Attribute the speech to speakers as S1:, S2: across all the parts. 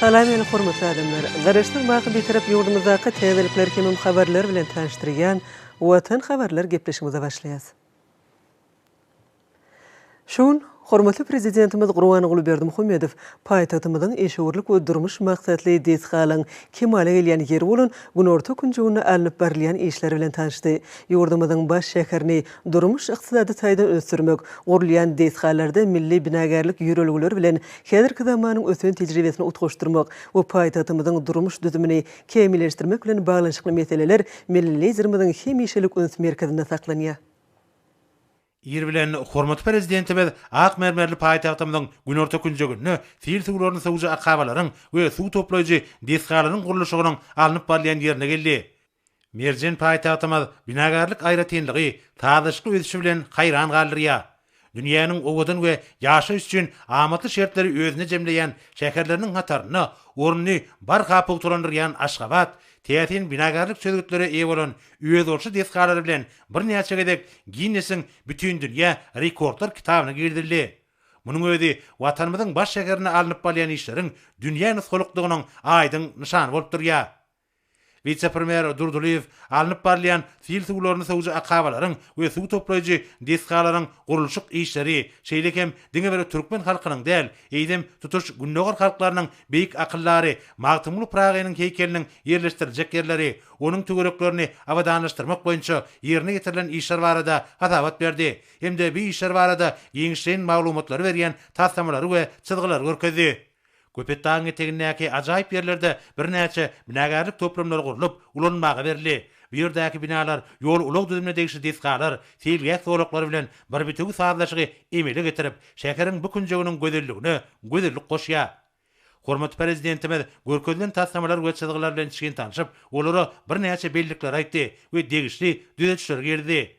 S1: Salam meni hormatly adamlar! Garaşsyz wagty bitarap ýurdumyzdaky täzelikler hemem habarlar bilen tanyşdyrýan Watan habarlar gepleşigimize başlaýas. Şu gün hormatly Prezidentimiz Gurbanguly Berdimuhamedow paýtagtymyzyň işewürlik we durmuş maksatly desgalaryň kemala gelýän ýeri bolan günorta künjeginde alnyp barylýan işler bilen tanşdy. Ýurdumyzyň baş şäherini durmuş-ykdysady taýdan ösdürmek, gurulýan desgalarda milli binagärlik ýörelgeleri bilen häzirki zamanyň ösen tejribesini utgaşdyrmak we paýtagtymyzyň durmuş düzümini kämilleşdirmek bilen baglanyşykly meseleler milli Liderimiziň hemişelik üns merkezinde saklanýar.
S2: Ir bilen hormatly Prezidentimiz ak mermerli paýtagtymyzyň günorta künjeginde sil suwlaryny sowujy akabalaryň we suw toplaýjy desgalaryň gurluşygynyň alnyp barylýan ýerine geldi. Merjen paýtagtymyz binagärlik aýratynlygy, sazlaşykly ösüşi bilen haýran galdyrýar. Dünýäniň owadan we ýaşaýyş üçin amatly şertleri özünde jemleýän şäherleriniň hatarynda ornuny barha pugtalandyrýan Aşgabat täsin binagärlik çözgütlere eýe bolan özboluşly desgalary bilen birnäçe gezek Ginnesiň Bütindünýä rekordlar kitabyna girizildi. Munuň özi Watanymyzyň baş şäherinde alnyp barylýan işleriň dünýä nusgalykdygynyň aýdyň nyşany bolup durýar. Wise-premýer Durdylyýew alnyp barylýan sil suwlaryny sowujy akabalaryň we suw toplaýjy desgalaryň gurluşyk işleri, şeýle hem diňe bir türkmen halkynyň däl, eýsem, tutuş Gündogar halklarynyň beýik akyldary Magtymguly Pyragynyň heýkeliniň ýerleşdiriljek ýerleri, onuň töwereklerini abadanlaşdyrmak boýunça ýerine ýetirilen işler barada hasabat berdi hem-de bu işler barada giňişleýin maglumatlary berýän taslamalary we çyzgylary görkezdi. Köpetdagyň etegindäki ajaýyp ýerlerde birnäçe binagärlik toplumlary gurlup, ulanmaga berildi. Bu ýerdäki binalar ýol-ulag düzümine degişli desgalar, seýilgäh zolaklary bilen bir bitewi sazlaşygy emele getirip, şäheriň bu künjeginiň gözelligine gözellik goşýar. Hormatly Prezidentimiz görkezilen taslamalar we çyzgylar bilen içgin tanşyp, olara birnäçe bellikleri aýtdy we degişli düzedişleri girizdi.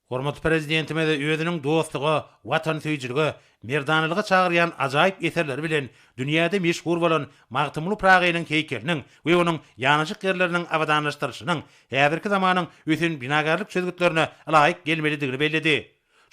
S2: Hormatly Prezidentimiz özüniň dostluga, watansöýüjilige, merdanalyga çagyrýan ajaýyp eserleri bilen dünýäde meşhur bolan Magtymguly Pyragynyň heýkeliniň we onuň ýanaşyk ýerleriniň abadanlaşdyrylyşynyň häzirki zamanyň ösen binagärlik çözgütlerine laýyk gelmelidigini belledi.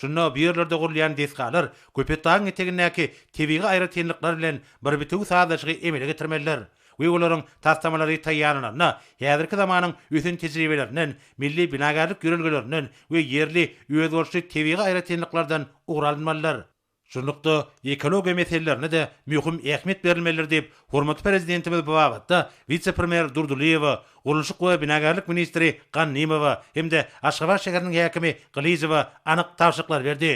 S2: Şunda bu ýerlerde gurulýan desgalar Köpetdagyň etegindäki tebigy aýratynlyklar bilen bir bitewi sazlaşygy emele getirmelidir we olaryň taslamalary taýýarlananda häzirki zamanyň ösen tejribelerinden, milli binagärlik ýörelgelerinden we ýerli özboluşly tebigy aýratynlyklardan ugur alynmalydyr. Şunlukda, ekologiýa meselelerine-de möhüm ähmiýet berilmelidir diýip, hormatly Prezidentimiz bu babatda wise-premýer Durdylyýewa, gurluşyk we binagärlik ministri Gannymowa hem-de Aşgabat şäheriniň häkimi Gylyjowa anyk tabşyryklar berdi.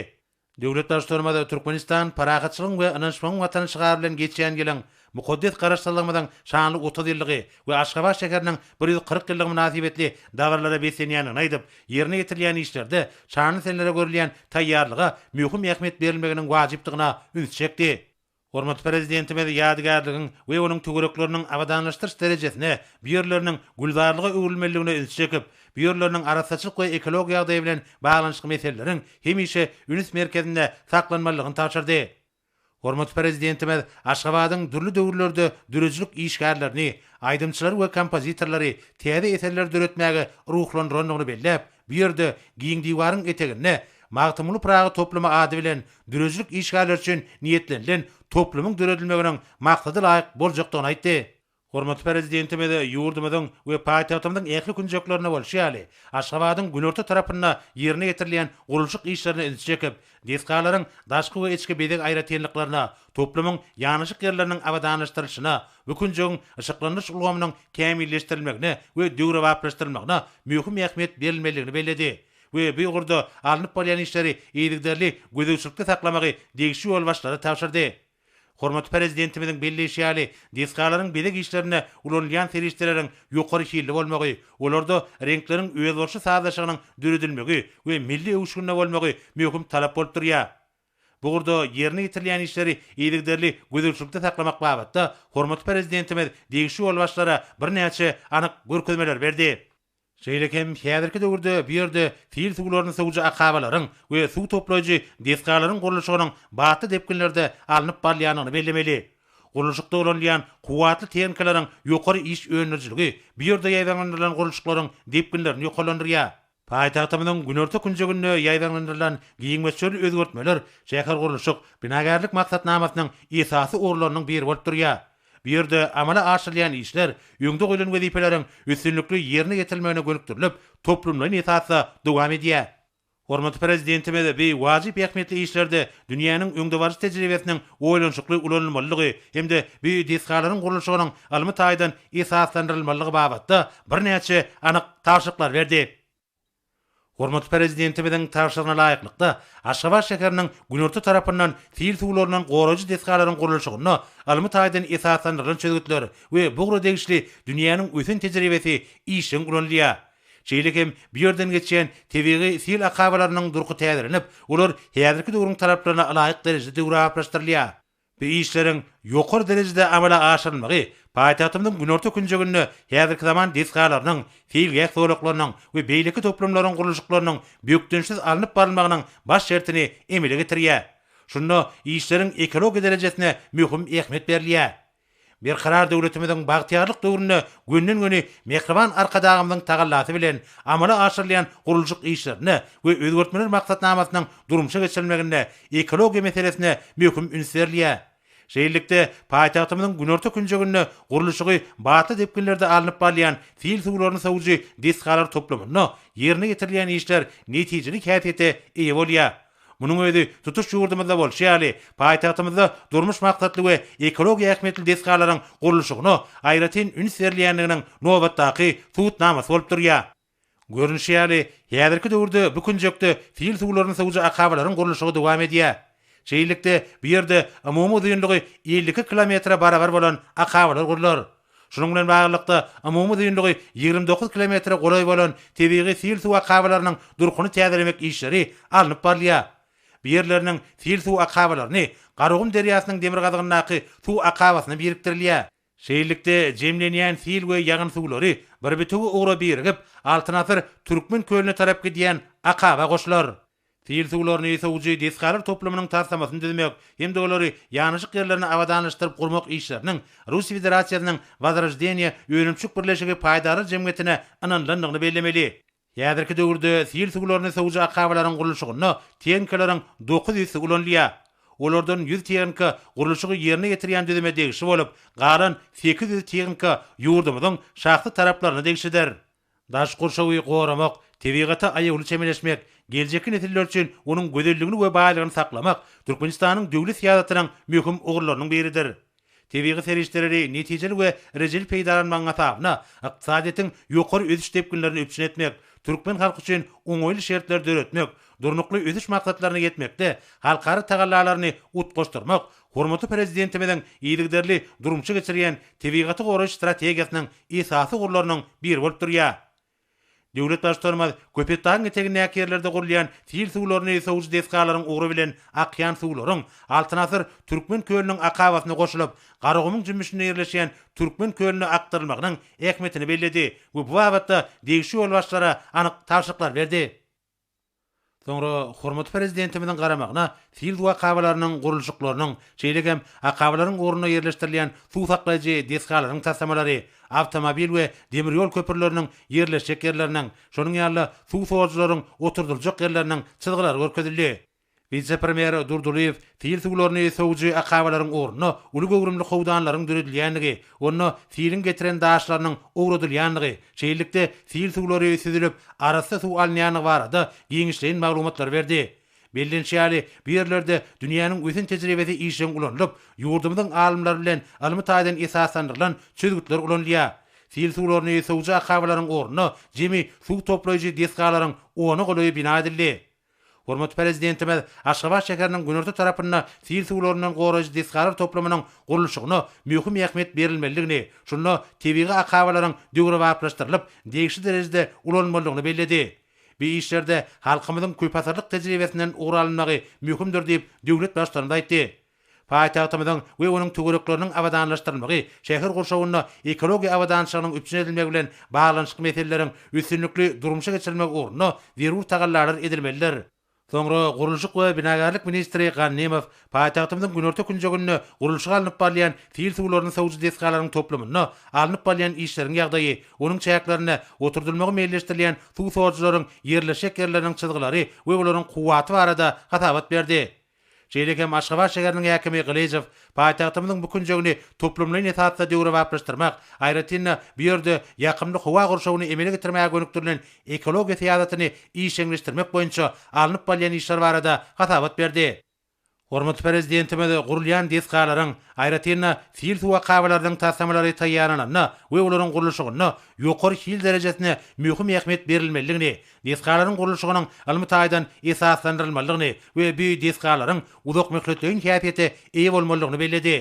S2: Döwlet Baştutanymyz Türkmenistan parahatçylygyň we ynanyşmagyň Watany şygary bilen geçýän ýylyň Mukaddes Garaşsyzlygymyzyň şanly otuz ýyllygy we Aşgabat şäheriniň bir ýüz kyrk ýyllygy mynasybetli dabaralara beslenýändigini aýdyp, ýerine ýetirilýän işlerde şanly senelere görülýän taýýarlyga möhüm ähmiýet berilmeginiň wajypdygyna üns çekdi. Hormatly Prezidentimiz ýadygärligiň we onuň töwerekleriniň abadanlaşdyryş derejesine bu ýerleriniň gülzarlyga öwrülmeliligine üns çekip, bu ýerleriniň arassaçylyk we ekologiýa ýagdaýy bilen baglanyşykly meseleleriň hemişe üns merkezinde saklanmalydygyny tabşyrdy. Hormatly Prezidentimiz Aşgabadyň dürli döwürlerde döredijilik işgärlerini, aýdymçylary we kompozitorlary täze eserleri döretmäge ruhlandyrandygyny belläp, bu ýerde, Giň diwaryň eteginde Magtymguly Pyragy toplumy ady bilen döredijilik işgärleri üçin niýetlenilen toplumyň döredilmeginiň maksada laýyk boljakdygyny aýtdy. Hormatly Prezidentimiz ýurdumyzyň we paýtagtymyzyň ähli künjeklerinde bolşy ýaly, Aşgabadyň günorta tarapynda ýerine ýetirilýän gurluşyk işlerine ünsi çekip, desgalaryň daşky we içki bezeg aýratynlyklaryna, toplumyň ýanaşyk ýerleriniň abadanlaşdyrylyşyna, bu künjegiň yşyklandyryş ulgamynyň kämilleşdirilmegine we döwrebaplaşdyrylmagyna möhüm ähmiýet berilmelidigini belledi we bu ugurda alnyp barylýan işleri yzygiderli gözegçilikde saklamagy degişli ýolbaşçylara tabşyrdy. Hormatly Prezidentimiziň belleýşi ýaly, desgalaryň bezeg işlerinde ulanylýan serişdeleriň ýokary hilli bolmagy, olarda reňkleriň özboluşly sazlaşygynyň döredilmegi we milli öwüşginde bolmagy möhüm talap bolup durýar. Bu ugurda ýerine ýetirilýän işleri yzygiderli gözegçilikde saklamak babatda hormatly Prezidentimiz degişli ýolbaşçylara birnäçe anyk görkezmeler berdi. Şeýle hem häzirki döwürde bu ýerde sil suwlaryny sowujy akabalaryň we suw toplaýjy desgalaryň gurluşygynyň batly depginlerde alnyp barylýandygyny bellemeli. Gurluşykda ulanylýan kuwwatly tehnikalaryň ýokary iş öndürijiligi bu ýerde ýaýbaňlandyrylan gurluşyklaryň depginlerini ýokarlandyrýar. Paýtagtymyzyň günorta künjeginde ýaýbaňlandyrylan giň möçberli özgertmeler şähergurluşyk, binagärlik maksatnamasynyň esasy ugurlarynyň biri bolup durýar. Bu ýerde amala aşyrylýan işler öňde goýlan wezipeleriň üstünlikli ýerine ýetirilmegine gönükdirilip, toplumlaýyn esasda dowam edýär. Hormatly Prezidentimiz bu wajyp ähmiýetli işlerde dünýäniň öňdebaryjy tejribesiniň oýlanyşykly ulanylmalydygy hem-de bu desgalaryň gurluşygynyň ylmy taýdan esaslandyrylmalydygy babatda birnäçe anyk tabşyryklar berdi. Hormatly Prezidentimiziň tabşyrygyna laýyklykda, Aşgabat şäheriniň günorta tarapyndan sil suwlaryndan goraýjy desgalaryň gurluşygyna ylmy taýdan esaslandyrylan çözgütler we bu ugra degişli dünýäniň ösen tejribesi işjeň ulanylýar. Şeýle hem bu ýerden geçýän tebigy sil akabalarynyň durky täzelenip, olar häzirki döwrüň talaplaryna laýyk derejede döwrebaplaşdyrylýar. Bu işleriň ýokary derejede amala aşyrylmagy paýtagtymyzyň günorta künjeginde häzirki zaman desgalarynyň, seýilgäh zolaklarynyň we beýleki toplumlaryň gurluşyklarynyň bökdençsiz alnyp barylmagynyň baş şertini emele getirýär. Şunda işleriň ekologiýa derejesine möhüm ähmiýet berilýär. Berkarar döwletimiziň bagtyýarlyk döwründe gönden-göni mähriban Arkadagymyzyň tagallasy bilen amala aşyrylýan gurluşyk işlerinde we Özgertmeler maksatnamasynyň durmuşa geçirilmeginde ekologiýa meselesine möhüm üns berilýär. Şeýlelikde, paýtagtymyzyň günorta künjeginde gurluşygy batly depginlerde alnyp barylýan sil suwlaryny sowujy desgalar toplamynda ýerine ýetirilýän işler netijeli häsiýete eýe bolýar. Munuň özi tutuş ýurdumyzda bolşy ýaly, paýtagtymyzda durmuş maksatly we ekologiýa ähmiýetli desgalaryň gurluşygyna aýratyn üns berilýändiginiň nobatdaky subutnamasy bolup durýar. Görnüşi ýaly, häzirki döwürde bu künjekde sil suwlaryny sygjy akabalaryň gurluşygy dowam edýär. Şeýlelikde, bu ýerde umumy uzynlygy elli iki kilometre barabar bolan akabalar gurlar. Şunuň bilen baglylykda, umumy uzynlygy ýigrimi dokuz kilometre golaý bolan tebigy sil suw akabalarynyň durkuny täzelemek işleri alnyp barylýar. Bu ýerleriniň sil suw akabalaryny Garagum derýasynyň demirgazygyndaky suw akabasyna birikdirilýär. Şeýlelikde, jemlenýän sil we ýagyn suwlary bir bitewi ugra birigip, Altyn asyr Türkmen kölüne tarap gidýän akaba goşular. Sil suwlaryny sowujy desgalar toplumynyň taslamasyny düzmek hem-de olary ýanaşyk ýerlerine abadanlaşdyryp gurmak işleriniň Russiýa Federasiýasynyň Wozroždeniýe önümçilik birleşigi paýdarlar jemgyýetine ynanylandygyny bellemeli. Häzirki döwürde sil suwlaryny sowujy akabalaryň gurluşygynda tehnikalaryň dokuz ýüzsi ulanylýar. Olardan ýüz tehnika gurluşygy ýerine ýetirýän düzüme degişli bolup, galan sekiz ýüz tehnika ýurdumyzyň şahsy taraplaryna degişlidir. Daş gurşawy goramak, tebigata aýawly çemeleşmek, geljekki nesiller üçin onuň gözelligini we baýlygyny saklamak Türkmenistanyň döwlet syýasatynyň möhüm ugurlarynyň biridir. Tebigy serişdeleri netijeli we rejeli peýdalanmagyň hasabyna ykdysadyýetiň ýokary ösüş depginlerini üpjün etmek, türkmen halky üçin oňaýly şertleri döretmek, Durnukly ösüş maksatlaryna ýetmekde halkara tagallalaryny utgaşdyrmak Hormatly Prezidentimiziň yzygiderli durmuşa geçirýän tebigaty goraýyş strategiýasynyň esasy ugurlarynyň biri bolup durýar. Döwlet Baştutanymyz Köpetdagyň etegindäki ýerlerde gurulýan sil suwlaryny sowujy desgalaryň ugry bilen akýan suwlaryň Altyn asyr Türkmen kölüniň akabasyna goşulyp, Garagumuň jümmüşinde ýerleşýän Türkmen kölüne akdyrylmagynyň ähmiýetini belledi we bu babatda degişli ýolbaşçylara anyk tabşyryklar berdi. Soňra hormatly Prezidentimiziň garamagyna sil suw akabalarynyň gurluşyklarynyň, şeýle hem akabalaryň ugrunda ýerleşdirilýän suw saklaýjy desgalaryň taslamalary, awtomobil we demir ýol köprüleriniň ýerleşjek ýerleriniň, şonuň ýaly-da suw sorujylaryň oturdyljak ýerleriniň çyzgylary görkezildi. Wise-premýer Durdylyýew sil suwlaryny sowujy akabalaryň ornuna uly göwrümli howdanlaryň döredilýändigi, onda siliň getiren daşlarynyň owradylýandygy, şeýlelikde, sil suwlary süzülip, arassa suw alynýandygy barada giňişleýin maglumatlary berdi. Bellenişi ýaly, bu ýerlerde dünýäniň ösen tejribesi işjeň ulanylyp, ýurdumyzyň alymlary bilen ylmy taýdan esaslandyrylan çözgütler ulanylýar. Sil suwlaryny sowujy akabalaryň ornuna jemi suw toplaýjy desgalaryň ona golaýy bina edildi. Hormatly Prezidentimiz Aşgabat şäheriniň günorta tarapynda sil suwlaryndan goraýjy desgalar toplumynyň gurluşygyna möhüm ähmiýet berilmelidigini, şunda tebigy akabalaryň döwrebaplaşdyrylyp, degişli derejede ulanylmalydygyny belledi. Bu işlerde halkymyzyň köpasyrlyk tejribesinden ugur alynmagy möhümdir diýip, döwlet Baştutanymyz aýtdy. Paýtagtymyzyň we onuň töwerekleriniň abadanlaşdyrylmagy şäher gurşawynda ekologiýa abadançylygynyň üpjün edilmegi bilen baglanyşykly meseleleriň üstünlikli durmuşa geçirilmegi ugrunda zerur tagallalar edilmelidir. Soňra gurluşyk we binagärlik ministri Gannymow paýtagtymyzyň günorta künjeginde gurluşygy alnyp barylýan sil suwlaryny sowujy desgalaryň toplumynda alnyp barylýan işleriň ýagdaýy, onuň çäklerinde oturdylmagy meýilleşdirilýän suw sorujylaryň ýerleşjek ýerleriniň çyzgylary we olaryň kuwwaty barada hasabat berdi. Şeýle hem Aşgabat şäheriniň häkimi Gylyjow paýtagtymyzyň bu künjegini toplumlaýyn esasda döwrebaplaşdyrmak, aýratyn-da, bu ýerde ýakymly howa gurşawyny emele getirmäge gönükdirilen ekologiýa syýasatyny işjeňleşdirmek boýunça alnyp barylýan işler barada hasabat berdi. Hormatly Prezidentimiz gurulýan desgalaryň, aýratyn-da, sil suw akabalarynyň taslamalary taýýarlananda we olaryň gurluşygynda ýokary hil derejesine möhüm ähmiýet berilmelidigini, desgalaryň gurluşygynyň ylmy taýdan esaslandyrylmalydygyny we bu desgalaryň uzakmöhletleýin häsiýete eýe bolmalydygyny belledi.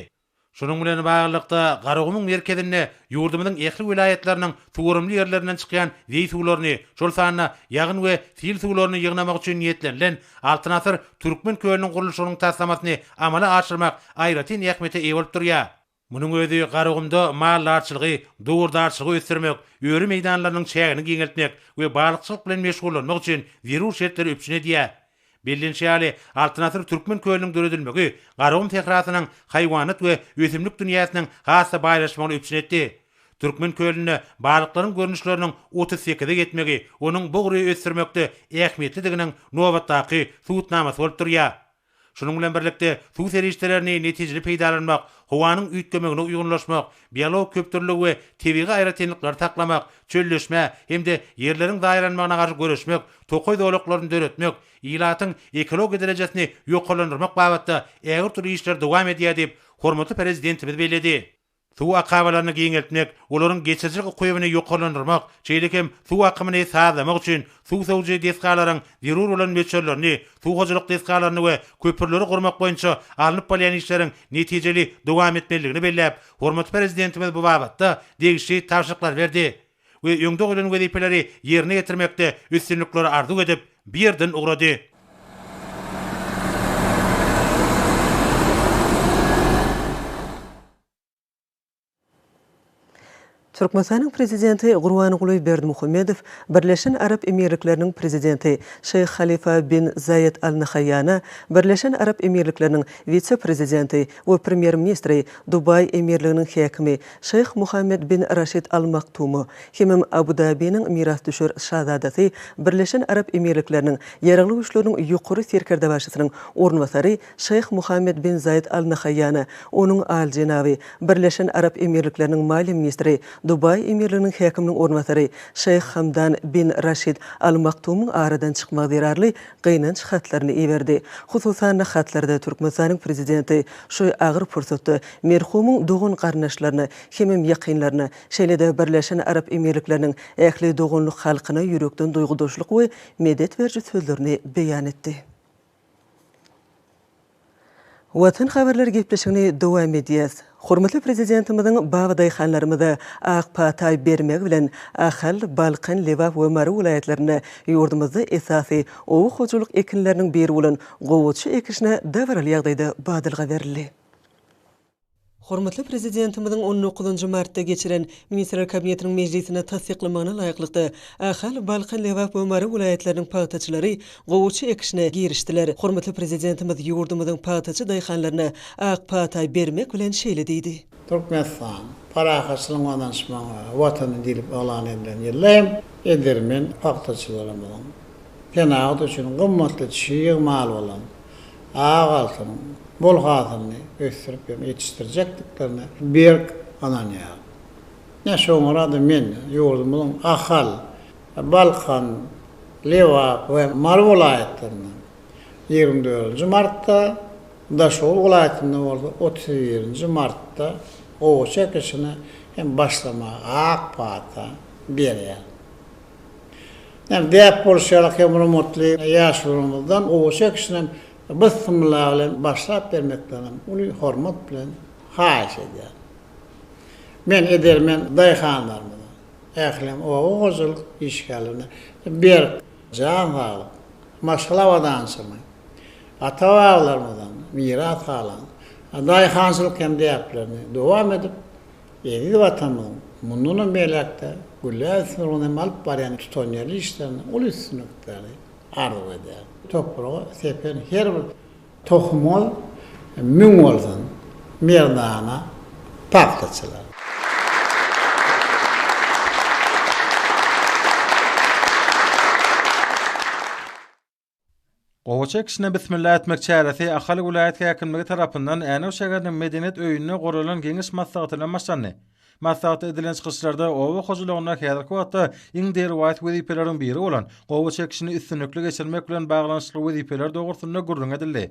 S2: Şunuň bilen baglylykda, Garagumuň merkezinde ýurdumyzyň ähli welaýatlarynyň suwarymly ýerlerinden çykýan zeý suwlaryny, şol sanda ýagyn we sil suwlaryny ýygnamak üçin niýetlenilen Altyn asyr Türkmen kölüniň gurluşygynyň taslamasyny amala aşyrmak aýratyn ähmiýete eýe bolup durýar. Munuň özi Garagumda maldarçylygy, dowurdarçylygy ösdürmek, öri meýdanlarynyň çägini giňeltmek we balykçylyk bilen meşgullanmak üçin zerur şertleri üpjün edýär. Bellenişi ýaly, Altyn asyr Türkmen kölüniň döredilmegi Garagum sährasynyň haýwanat we ösümlik dünýäsiniň has-da baýlaşmagyny üpjün etdi. Türkmen kölünde balyklaryň görnüşleriniň otuz sekize ýetmegi onuň bu gury ösdürmekde ähmiýetlidiginiň nobatdaky subutnamasy bolup durýar. Şunuň bilen birlikde, suw serişdelerini netijeli peýdalanmak, howanyň üýtgemegine uýgunlaşmak, biologik köpdürlüligi we tebigy aýratynlyklary saklamak, çölleşmä hem-de ýerleriň zaýalanmagyna garşy göreşmek, tokaý zolaklaryny döretmek, ilatyň ekologiýa derejesini ýokarlandyrmak babatda ägirt uly işler dowam edýär diýip, hormatly Prezidentimiz belledi. Suw akabalaryny giňeltmek, olaryň geçirijilik ukybyny ýokarlandyrmak, şeýle hem suw akymyny sazlamak üçin suw sowujy desgalaryň zerur bolan möçberlerini, suw hojalyk desgalaryny we köpürleri gurmak boýunça alnyp barylýan işleriň netijeli dowam etmelidigini belläp, hormatly Prezidentimiz bu babatda degişli tabşyryklary berdi. we öňde goýlan wezipeleri ýerine ýetirmekde üstünlikleri arzuw edip, bu ýerden ugrady.
S1: Türkmenistanyň Prezidenti Gurbanguly Berdimuhamedow Birleşen Arap Emirlikleriniň Prezidenti Şeýh Halifa bin Zaýed Al Nahaýýana, Birleşen Arap Emirlikleriniň Wise-prezidenti we Premýer-ministri, Dubaý Emirliginiň häkimi Şyh Muhammed bin Raşid Al Maktumy hemem Abu Dabiniň mirasdüşer şazadasy, Birleşen Arap Emirlikleriniň Ýaragly Güýçleriniň Ýokary Serkerdebaşysynyň orunbasary Şyh Muhammed bin Zaýed Al Nahaýýana, onuň aljenaby, Birleşen Arap Emirlikleriniň Maliýe ministri, Dubaý Emirliginiň häkiminiň orunbasary Şyh Hamdan bin Raşid Al Maktumyň aradan çykmagy zerarly gynanç hatlaryny iberdi. Hususan-da, hatlarda Türkmenistanyň Prezidenti şu agyr pursatda merhumyň dogan-garyndaşlaryna hemem ýakynlaryna, şeýle-de Birleşen Arap Emirlikleriniň ähli doganlyk halkyna ýürekden duýgudaşlyk we medet beriji sözlerini beýan etdi. Watan habarlar gepleşigini dowam edýäs. Hormatly Prezidentimiziň babadaýhanlarymyza ak pataý bermegi bilen Ahal, Balkan, Lebap we Mary welaýatlarynda ýurdumyzda esasy oba hojalyk ekinleriniň biri bolan gowaça ekişine dabaraly ýagdaýda badalga berildi. Hormatly Prezidentimiziň on dokuzynjy martda geçiren Ministrler Kabinetiniň mejlisinde tassyklamagyna laýyklykda, Ahal, Balkan, Lebap we Mary welaýatlarynyň pagtaçylary gowaça ekişine girişdiler. Hormatly Prezidentimiz ýurdumyzyň pagtaçy daýhanlaryna ak pata bermek bilen şeýle diýdi. Türkmenistan
S3: parahatçylygyň ynanyşmagyň Watany diýlip yglan edilen ýylda hem edermen pagtaçylarymyzyň senagat üçin gymmatly çig mal bolan Sag alsyn, bol hasylny ösdürip hem ýetişdirjekdiklerine berk ynanýaryn. Ine, şoňra-da men ýurdumyzyň Ahal, Balkan, Lebap we Mary welaýatlarynda, ýigrimi dördünji martda, Daşoguz welaýatynda bolsa otuz birinji martda gowaça ekişine hem başlamaga ak pata berýärin. Ýöne däp bolşy ýaly hemrumutly ýaşulymyzdan gowy çekişinem Byssymylla bilen başlap bermekliginiň uly hormat bilen haýyş edýärin. Men edermen daýhanlarymyza, ählem oba hojalyk işgärlerine berk jan saglyk, maşgala abadançylygy, ata-babalarymyzdan miras galan daýhançylyk hem däplerini dowam edip, Eziz Watanymyzyň mundanam beýläk-de gülläp ösmegine hem alyp barýan tutanýerli işlerinde uly üstünlikleri arzuw edýärin. Topraga sepen her bir tohumyňyz müň bolsun, merdana pagtaçylar!
S4: Gowaça ekişine bismilla etmek çäresi Ahal welaýat häkimligi tarapyndan Änew şäheriniň Medeniýet öýünde guralan Geňeş maslahaty bilen başlandy. Maslahatda edilen çykyşlarda oba hojalygynda häzirki wagtda iň derwaýys wezipeleriň biri bolan gowaça ekişini üstünlikli geçirmek bilen baglanyşykly wezipeler dogrusynda gürrüň edildi.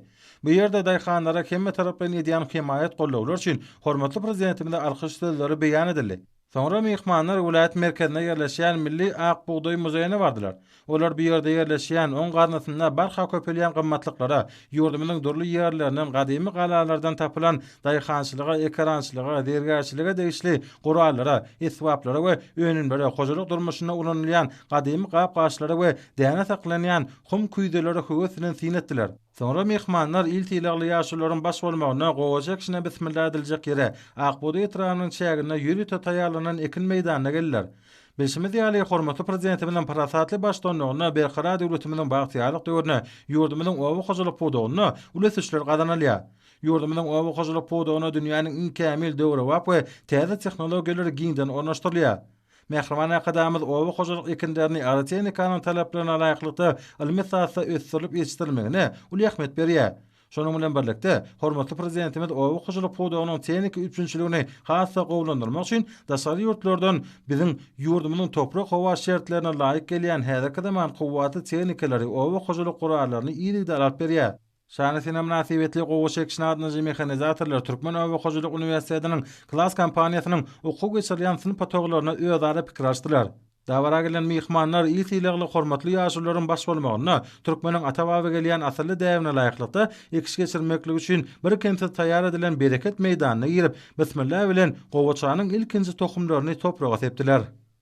S4: Bu ýerde daýhanlara hemmetaraplaýyn edýän hemaýat-gollawlar üçin hormatly Prezidentimize alkyş sözleri beýan edildi. Soňra myhmanlar welaýat merkezinde ýerleşýän Milli ak bugdaý muzeýine bardylar. Olar bu ýerde ýerleşýän, oň gaznasynda barha köpelýän gymmatlyklara, ýurdumyzyň dürli ýerlerinden, gadymy galalardan tapylan daýhançylyga, ekerançylyga, zergärçilige degişli gurallara, esbaplara we önümlere, hojalyk durmuşynda ulanylýan gadymy gap-gaçlara we däne saklanýan hum küýzelere höwes bilen syn etdiler. Soňra myhmanlar il sylagly ýaşulularyň baş bolmagynda gowaça ekişine bismilla ediljek ýere, Ak bugdaý etrabynyn çäginde ýüz ýüte taýýarlanan ekin meýdanyna geldiler. Bilşimiz ýaly, hormatly Prezidentimiziň parasatly baştutanlygynda Berkarar döwletimiziň bagtyýarlyk döwründe ýurdumyzyň oba hojalyk pudagynda uly ösüşler gazanylýar. Ýurdumyzyň oba hojalyk pudagyna dünýäniň iň kämil, döwrebap we täze tehnologiýalary giňden ornaşdyrylýar. Mähriban Arkadagymyz oba hojalyk ekinlerini agrotehnikanyň talaplaryna laýyklykda ylmy esasda ösdürilip ýetişdirilmegine uly ähmiýet berýär. Şonuň bilen birlikde, hormatly Prezidentimiz oba hojalyk pudagynyň tehniki üpjünçiligini has-da gowulandyrmak üçin daşary ýurtlardan biziň ýurdumyzyň toprak-howa şertlerine laýyk gelýän häzirki zaman kuwwatly tehnikalary, oba hojalyk gurallaryny yzygider alyp berýär. Şana sene mynasybetli gowa çekiş nadynjy mehanizatorlar Türkmen oba hojalyk uniwersitetiniň Klas kompaniýasynyň okuw geçirilýän synp otaglarynda özara pikir alyşdylar. Dabara gelen myhmanlar il sylagly hormatly ýaşulularyň baş bolmagynda türkmeniň ata-baba gelýän asylly däbine laýyklykda ekiş geçirmeklik üçin birkemsiz taýýar edilen bereket meýdanyna girip, bismillah bilen gowaçanyň ilkinji tohumlaryny topraga sepdiler.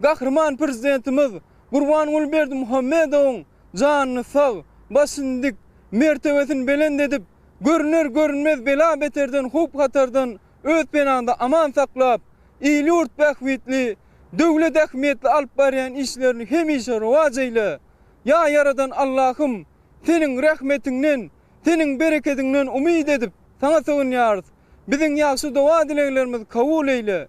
S5: Gahryman Prezidentimiz Gurbanguly Berdimuhamedowyň janyny sag, başyny dik, mertebesini belent edip, görüner-görünmez bela-beterden, howp-hatardan öz penaňda aman saklap, il-ýurt bähbitli, döwlet ähmiýetli alyp barýan işlerini hemişe rowaç eýle! Ýa Ýaradan Allahym, Seniň rehmetiňden, Seniň berekediňden umyt edip, Saňa sygynýarys. Biziň ýagşy doga-dileglerimizi kabul eýle!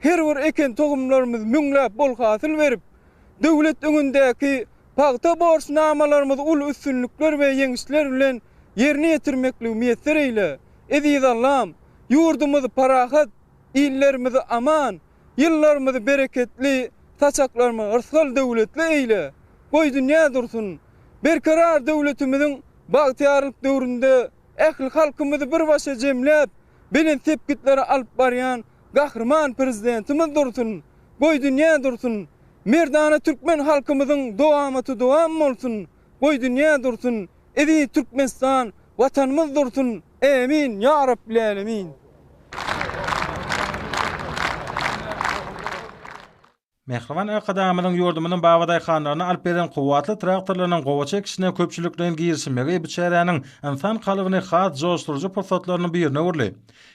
S5: Her bir eken tohumlarymyz müňläp bol hasyl berip, döwlet öňündäki pagta borçnamalarymyzy uly üstünlikler we ýeňişler bilen ýerine ýetirmekligi miýesser eýle, eziz Allam! Ýurdumyzy parahat, illerimizi aman, ýyllarymyzy bereketli, saçaklarymyzy yrsgal-döwletli eýle! Goý, dünýä dursun! Berkarar döwletimiziň bagtyýarlyk döwründe ähli halkymyzy bir başa jemläp, belent sepgitlere alyp barýan Gahryman Prezidentimiz dursun, goý dünýä dursun, merdana türkmen halkymyzyň dowamaty dowam bolsun, goý dünýä dursun, eziz Türkmenistan Watanymyz dursun, ämin, ýa Rabbilälemin!
S4: Mähriban Arkadagymyzyň ýurdumyzyň babadaýhanlaryna alyp beren kuwwatly traktorlarynyň gowaça ekişine köpçülikleýin girişilmegi bu çäräniň ynsan kalbyny has joşduryjy pursatlarynyň birine öwürdi.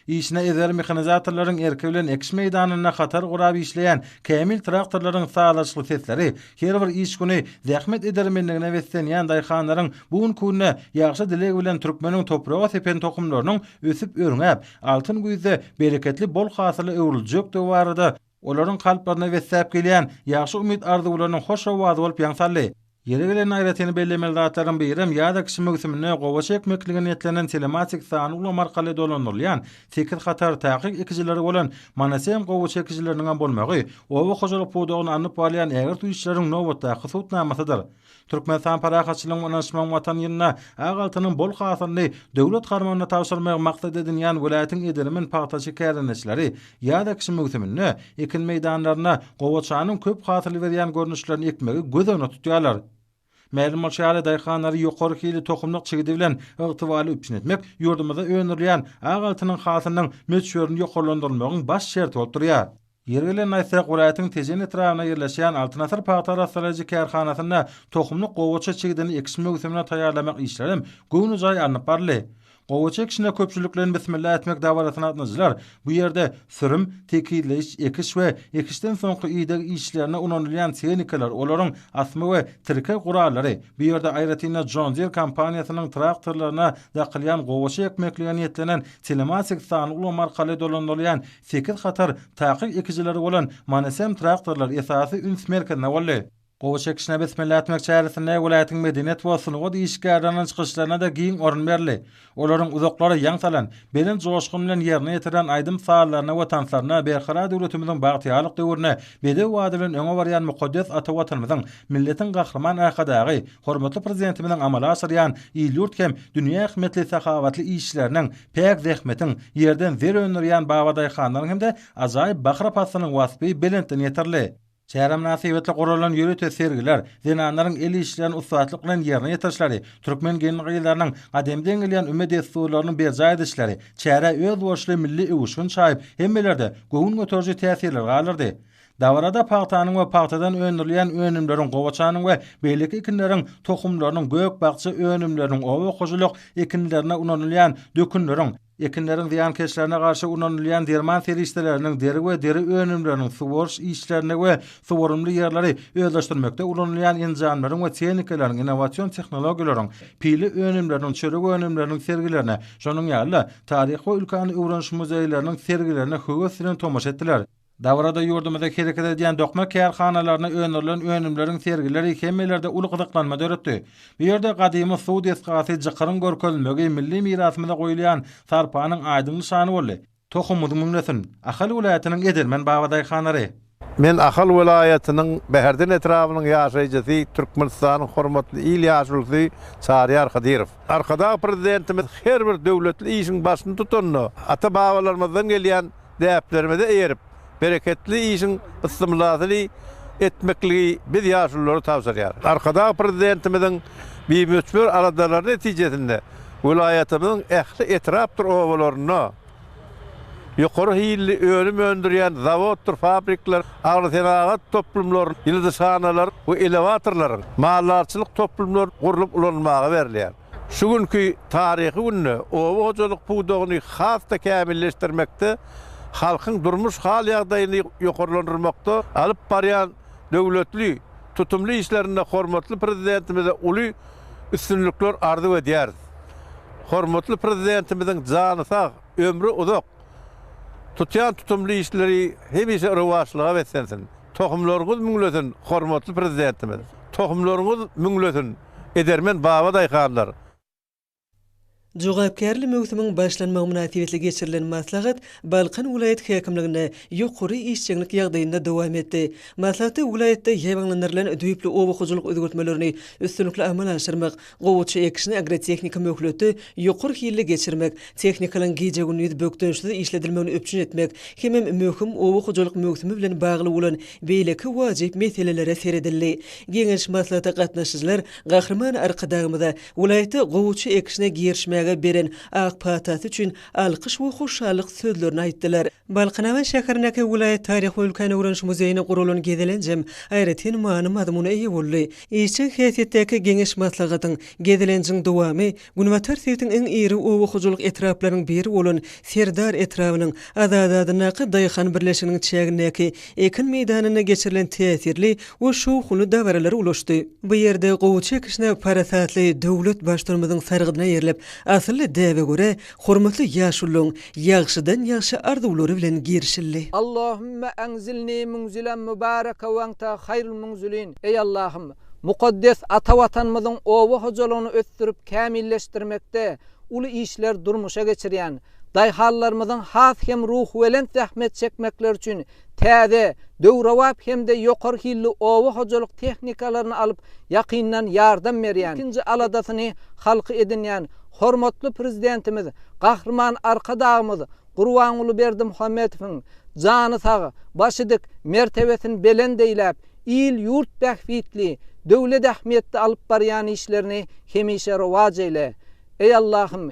S4: Işine ezber mehanizatorlaryň erki bilen ekiş meýdanynda hatar gurap işleýän kämil traktorlaryň sazlaşykly sesleri her bir iş güni zähmet edermenligine beslenýän daýhanlaryň bu günki-günde ýagşy dileg bilen türkmeniň topraga sepen tohumlarynyň ösüp-örňäp, altyn güýzde bereketli bol hasyla öwrüljekdigi barada Olaryň kalplaryna besläp gelýän ýagşy umyt arzuwlarynyň hoş owazy bolup ýaň saldy. Ýeri gelende aýratyn bellemeli zatlaryň birem ýaza kişi möwsüminde gowaça ekmeklige niýetlenen telematik sanly ulam arkaly dolandyrylýan sekiz hatar takyk ekijilere bolan Manasem gowaça ekijileriniňem bolmagy oba hojalyk pudagyny alnyp barylýan ägirt işleriň nobatdaky subutnamasydyr. Türkmenistan parahatçylygyň, ynanyşmagyň Watan ýylynda ak altynyň bol hasylyny döwlet harmanyna tabşyrmagy maksat edinýän welaýatyň edil-emin pagtaçy kärendeçileri ýaz ekişi möwsüminde ekin meýdanlarynda gowaçanyň köp hasyl berýän görnüşlerini ekmegi göz öňüne tutýarlar. Mälim bolşy ýaly, daýhanlary ýokary hilli tohumlyk çigidi bilen ygtybarly üpjün etmek ýurdumyzda öndürilýän ak altynyň hasylynyň möçberini ýokarlandyrylmagyň baş şerti bolup durýar. Ýeri gelende aýtsak, welaýatyň Tejen etrabynda ýerleşýän Altyn asyr pagta arassalaýjy kärhanasynda tohumlyk gowaça çigidini ekiş möwsümine taýýarlamak işleri hem göwnejaý alnyp baryldy. Gowaça ekişine köpçülik bilen bismillah etmek dabarasyna gatnaşyjylar bu ýerde sürüm, tekizleýiş, ekiş we ekişden soňky ideg işlerine ulanylýan tehnikalar, olaryň asma we tirkeg gurallary, bu ýerde aýratyn-da John Deere kompaniýasynyň traktorlaryna dakylýan gowaça ekmeklige niýetlenen telematik sanly ulgam arkaly dolandyrylýan Sekiz hatar takyk ekijileri bolan Manesem traktorlar esasy üns merkezine boldy. Gowy çekişine besmelle etmek çäresinde welaýatyň medeniýet we sungat işgärleriniň çykyşlaryna-da giň orun berildi. Olaryň uzaklara ýaň salan, belent joşgun bilen ýerine ýetiren aýdym-sazlaryna we tanslaryna Berkarar döwletimiziň bagtyýarlyk döwrüne bedew bady bilen öňe barýan mukaddes ata Watanymyzyň, milletiň Gahryman Arkadagy, hormatly Prezidentimiziň amala aşyrýan il-ýurt hem dünýä ähmiýetli sahawatly işleriniň Päk zähmetiň, ýerden zer öndürýän babadaýhanlaryň hem-de ajaýyp bakyra paslynyň waspy belentden ýetirildi. Çärä mynasybetli guralan ýörite sergiler, zenanlaryň el işlerini ussatlyk bilen ýerine ýetirişleri, türkmen gelin-gyzlarynyň gadymdan gelýän üme dessurlarynyň berjaý edişleri çärä özboluşly milli öwüşgin çaýyp, hemmelerde göwün göteriji täsirleri galdyrdy. Dabarada pagtanyň we pagtadan öndürilýän önümleriň, gowaçanyň we beýleki ekinleriň tohumlarynyň, gök-bakja önümleriniň, oba hojalyk ekinlerine ulanylýan dökünleriň, ekinleriň zyýankeşlerine garşy ulanylýan derman serişdeleriniň, deri we deri önümleriniň, suwaryş işlerini we suwarymly ýerleri özleşdirmekde ulanylýan enjamlaryň we tehnikalaryň, innowasion tehnologiýalaryň, pile önümleriniň, çörek önümleriniň sergilerine, şonuň ýaly-da, taryhy we ülkäni öwreniş muzeýleriniň sergilerine höwes bilen tomaşa etdiler. Dabarada ýurdumyzda hereket edýän dokma kärhanalarynda öndürilen önümleriň sergileri hemmelerde uly gyzyklanma döretdi. Bu ýerde gadymy suw desgasy Jykyryň görkezilmegi milli mirasymyza goýulýan sarpanyň aýdyň nyşany boldy. Tohumymyz müňlesin! Ahal welaýatynyň edermen babadaýhanlary. Men Ahal
S6: welaýatynyň Bäherden etrabynyň ýaşaýjysy, Türkmenistanyň hormatly il ýaşulusy Çaryýar Hydyrow. Arkadag Prezidentimiz her bir döwletli işiň başyny tutanda, ata-babalarymyzdan gelýän däplerimize eýerip, bereketli işiň ysmyladyny etmekligi biz ýaşululara tabşyrýar. Arkadag Prezidentimiziň bimöçber aladalary netijesinde welaýatymyzyň ähli etrapdyr obalarynda ýokary hilli önüm öndürýän zawoddyr fabrikler, agrosenagat toplumlary, ýyldyzhanalar we elewatorlaryň, maldarçylyk toplumlary gurlup ulanmaga berilýär. Şu günki taryhy günde oba hojalyk pudagyny has-da kämilleşdirmekde, halkyň durmuş hal-ýagdaýyny ýokarlandyrmakda alyp barýan döwletli, tutumly işlerinde hormatly Prezidentimize uly üstünlikler arzuw edýäris. Hormatly Prezidentimiziň jany sag, ömri uzak, Tutýan tutumly işleri hemişe rowaçlyga beslensin! Tohumlaryňyz müňlesin, hormatly Prezidentimiz! Tohumlaryňyz müňlesin, edermen baba daýhanlar!
S1: Jogapkärli möwsümiň başlanmagy mynasybetli geçirilen maslahat Balkan welaýat häkimliginde ýokary işjeňlik ýagdaýynda dowam etdi. Maslahatda welaýatda ýaýbaňlandyrylan düýpli oba hojalyk özgertmelerini üstünlikli amala aşyrmak, Gowaça ekişine agrotehniki möhleti ýokary hilli geçirmek, tehnikalaryň gije-gündiz bökdençsiz işledilmegini üpjün etmek hemem möhüm oba hojalyk möwsümi bilen bagly bolan beýleki wajyp meselelere seredildi. Geňeş maslahata gatnaşyjylar Gahryman Arkadagymyza welaýatda gowaça ekişine girişmäge beren ak patasy üçin alkyş we hoşallyk sözlerini aýtdylar. Balkanabat şäherindäki welaýat taryhy-ülkäni öwreniş muzeýine guralan gezelenjem aýratyn many-mazmuna eýe boldy. Işjeň häsiýetdäki geňeş-maslahatyň, gezelenjiň dowamy Günbatar sebitiň iň iri oba hojalyk etraplarynyň biri bolan Serdar etrabynyň Azady adyndaky daýhan birleşiginiň çägindäki ekin meýdanynda geçirilen täsirli we şowhunly dabaralara ulaşdy. Bu ýerde gowuça ekişine parasatly döwlet Baştutanymyzyň sargydyna eýerilip, Asylly däbe görä, hormatly ýaşulyň ýagşydan-ýagşy arzuwlary bilen girişildi. Allahümme
S7: enzilni munzilen mubaraka we ente hayrul munzilin, Eý Allahym, mukaddes ata Watanymyzyň oba hojalygyny ösdürip kämilleşdirmekde uly işler durmuşa geçirýän, daýhanlarymyzyň has hem ruhubelent zähmet çekmekleri üçin Täze, döwrebap hem-de ýokary hilli oba hojalyk tehnikalaryny alyp, ýakyndan ýardam berýän, ilkinji aladasyny halky edinýän hormatly Prezidentimiz Gahryman Arkadagymyz Gurbanguly Berdimuhamedowyň jany sag, başy dik, mertebesini belent eýläp, il-ýurt bähbitli, döwlet ähmiýetli alyp barýan işlerini hemişe rowaç eýle, eý Allahym!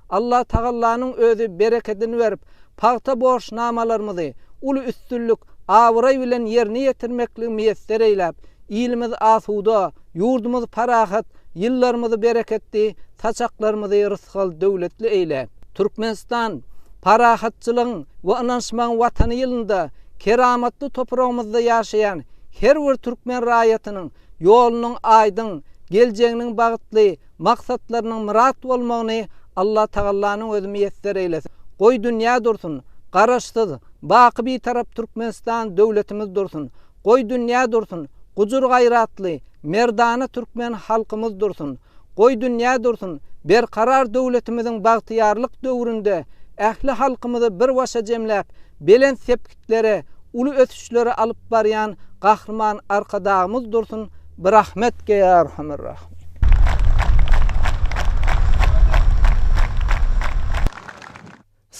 S7: Allatagallanyň özi berekedini berip, pagta borçnamalarymyzy uly üstünlik, abraý bilen ýerine ýetirmekligi miýesser eýläp, ilimiz asuda, ýurdumyz parahat, ýyllarymyzy bereketli, saçaklarymyzy rysgal-döwletli eýle! Türkmenistan, parahatçylygyň we ynanyşmagyň Watany ýylynda keramatly topragymyzda ýaşaýan her bir türkmen raýatynyň ýolunyň aýdyň, geljeginiň bagtly, maksatlarynyň myrat bolmagyny Allatagallanyň özi miýesser eýlesin! Goý dünýä dursun, Garaşsyz, baky Bitarap Türkmenistan döwletimiz dursun! Goý dünýä dursun, gujur-gaýratly, merdana türkmen halkymyz dursun! Goý dünýä dursun, berkarar döwletimiziň bagtyýarlyk döwründe ähli halkymyzy bir başa jemläp, belent sepgitde beýiklere, uly ösüşlere alyp barýan Gahryman Arkadagymyz dursun birahmet geýarhamyrrahym.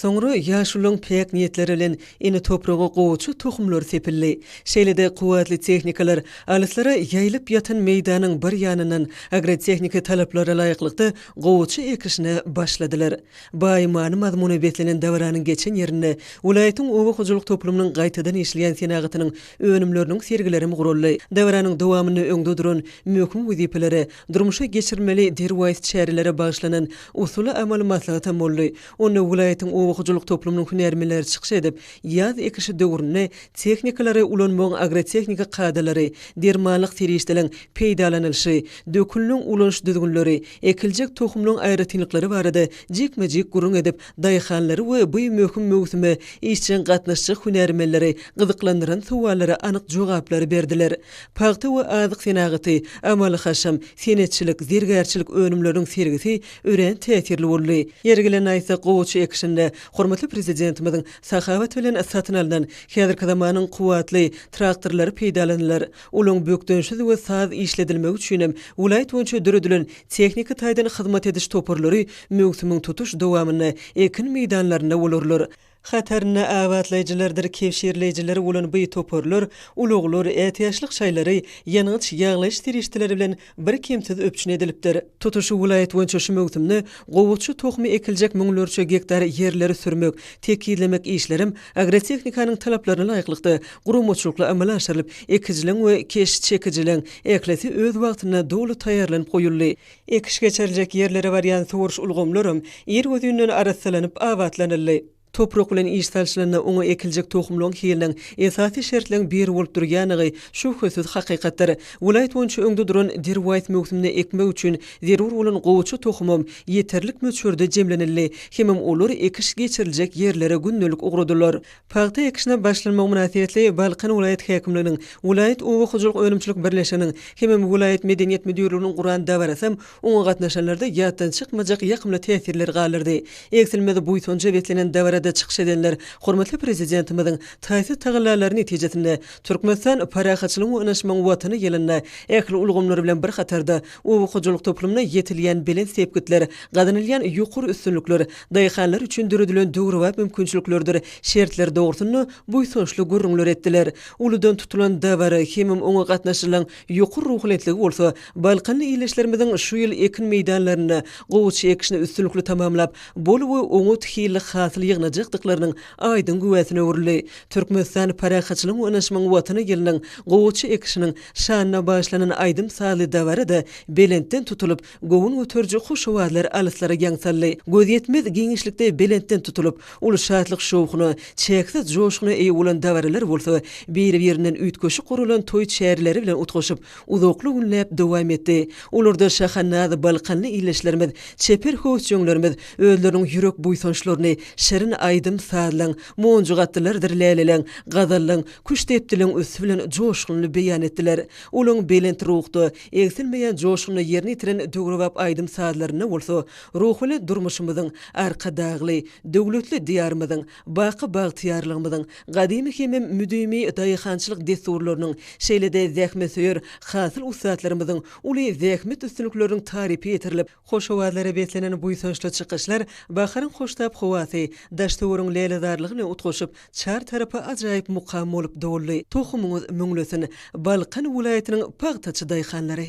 S1: Soňra ýaşularyň päk niýetleri bilen ene topraga gowaça tohumlary sepildi. Şeýle-de kuwwatly tehnikalar alyslara ýaýylyp ýatan meýdanyň bir ýanyndan agrotehniki talaplara laýyklykda gowaça ekişine başladylar. Baý many-mazmuna beslenen dabaranyň geçen ýerinde welaýatyň oba hojalyk toplumynyň gaýtadan işleýän senagatynyň önümleriniň sergilerem guraldy. Dabaranyň dowamynda öňde duran möhüm wezipelere, durmuşa geçirilmeli derwaýys çärelere bagyşlanan usuly-amaly maslahatam boldy. Onda welaýatyň oba hojalyk toplumynyň hünärmenleri çykyş edip, ýaz ekişi döwründe tehnikalary ulanmagyň agrotehniki kadalary, dermanlyk serişdeleň peýdalanylyşy, dökünleň ulanyş düzgünleri, ekiljek tohumlaryň aýratynlyklary barada jikme-jik gürrüň edip, daýhanlary we bu möhüm möwsüme işjeň gatnaşjak hünärmenleri gyzyklandyran sowallara anyk jogaplary berdiler. Pagta we azyk senagaty, amaly-haşam, senetçilik, zergärçilik önümleriniň sergisi örän täsirli boldy. Ýeri gelen aýtsak, gowaça ekişinde hormatly Prezidentimiziň Sahawat bilen satyn alnan, häzirki zamanyň kuwwatly, traktorlary peýdalanylar. Olaryň bökdençsiz we saz işledilmegi üçinem welaýat boýunça döredilen tehniki taýdan hyzmat ediş toparlary möwsümiň tutuş dowamynda ekin meýdanlarynda bolarlar. Hatarynda abatlaýjylardyr kebşirleýjiler bolan bu toparlar ulaglar, ätiýaçlyk şaýlary, ýangyç ýaglaýyş serişdeleri bilen birkemsiz üpjün edilipdir. Tutuş welaýat boýunça şu möwsümde gowaça tohumy ekiljek müňlerçe gektar ýerleri sürmek, tekizlemek işlerem agrotehnikanyň talaplaryna laýyklykda, guramaçylykly amala aşyrylyp, ekijileň we keş çekijileň ählisi öz wagtynda doly taýýarlanyp goýuldy. Ekiş geçiriljek ýerlere barýan suwaryş ulgamlaram ir gözünden arassalanyp abatlanyldy. Toprak bilen iş salşylanda oňa ekiljek tohumlaryň hiliniň esasy şertleň biri bolup durýandygy şübhesiz hakykatdyr. Welaýat boýunça öňde duran derwaýys möwsümde ekmek üçin zerur bolan gowaça tohumam ýeterlik möçberde jemlenildi hemem olar ekiş geçiriljek ýerlere gündelik ugradylar. Pagta ekişine başlanmagy mynasybetli Balkan welaýat häkimliginiň, welaýat oba hojalyk önümçilik birleşiginiň hemem welaýat medeniýet müdirliginiň guran dabarasam Oňa gatnaşanlarda ýatdan çykmajak ýakymly täsirler galardy. Egsilmez buýsanja beslenen dabarada çykyş edenler hormatly Prezidentimiziň taýsyz tagallalary netijesinde, Türkmenistan parahatçylygyň we ynaşmagyň Watany ýylynda ähli ulgamlar bilen bir hatarda, oba hojalyk toplumynda ýetilýän belent sepgitler, gazanylýan ýokary üstünlikler, daýhanlar üçin döredilen döwrebap mümkinçiliklerdir şertler dogrusynda buýsançly gürrüňler etdiler. Uludan tutulan dabara hemem oňa gatnaşylan Ýokary ruhulyýetligi bolsa, balkanly ildeşlerimiziň şu ýyl ekin meýdanlarynda gowaça ekişini üstünlikli tamamlap, bol we oňat hilli hasyl ýygnajakdyklarynyň aýdyň güwäsine öwrüldi. Türkmenistan parahatçylygyň önaşmagyň Watany gelniň gowaça ekişiniň şanyna bagyşlanan aýdym-sazly dabara-da belentden tutulyp, Göwün göteriji hoş owazlar alyslara ýaň saldy. Gözýetmez giňişlikde belentden tutulyp, uly şatlyk-şowhuna, çäksiz joşguna eýe bolan dabaralar bolsa, biri-birinden üýtgeşik guralan toý çäreleri bilen utgaşyp, uzakly günläp dowam etdi. Olarda şaha-naz balkanly ildeşlerimiz, çeper höwesjeňlerimiz özleriniň ýürek buýsançlaryny şirin aýdym-sazlaň, monjuk atlylardyr läleleň, gazallaň, küştdepdiliň üsti bilen joşgunly beýan etdiler. Olaň belent ruhda, Egsilmeýän joşguny ýerine ýetiren döwrebap aýdym-sazlarynda bolsa ruhly durmuşymyzyň, Arkadagly, döwletli Diýarymyzyň, baky bagtyýarlygymyzyň, gadymy hemem müdimi daýhançylyk dessurlarynyň, şeýle-de zähmetsöýer hasyl ussatlarymyzyň uly zähmet üstünlikleriniň tarypy ýetirilip, Hoş owazlara beslenen buýsançly çykyşlar baharyň hoştap howasy, daş-töweriň lälezarlygy bilen utgaşyp, çar tarapy ajaýyp mukam bolup doldy. Tohumyňyz müňlesin, Balkan welaýatynyň pagtaçy daýhanlary!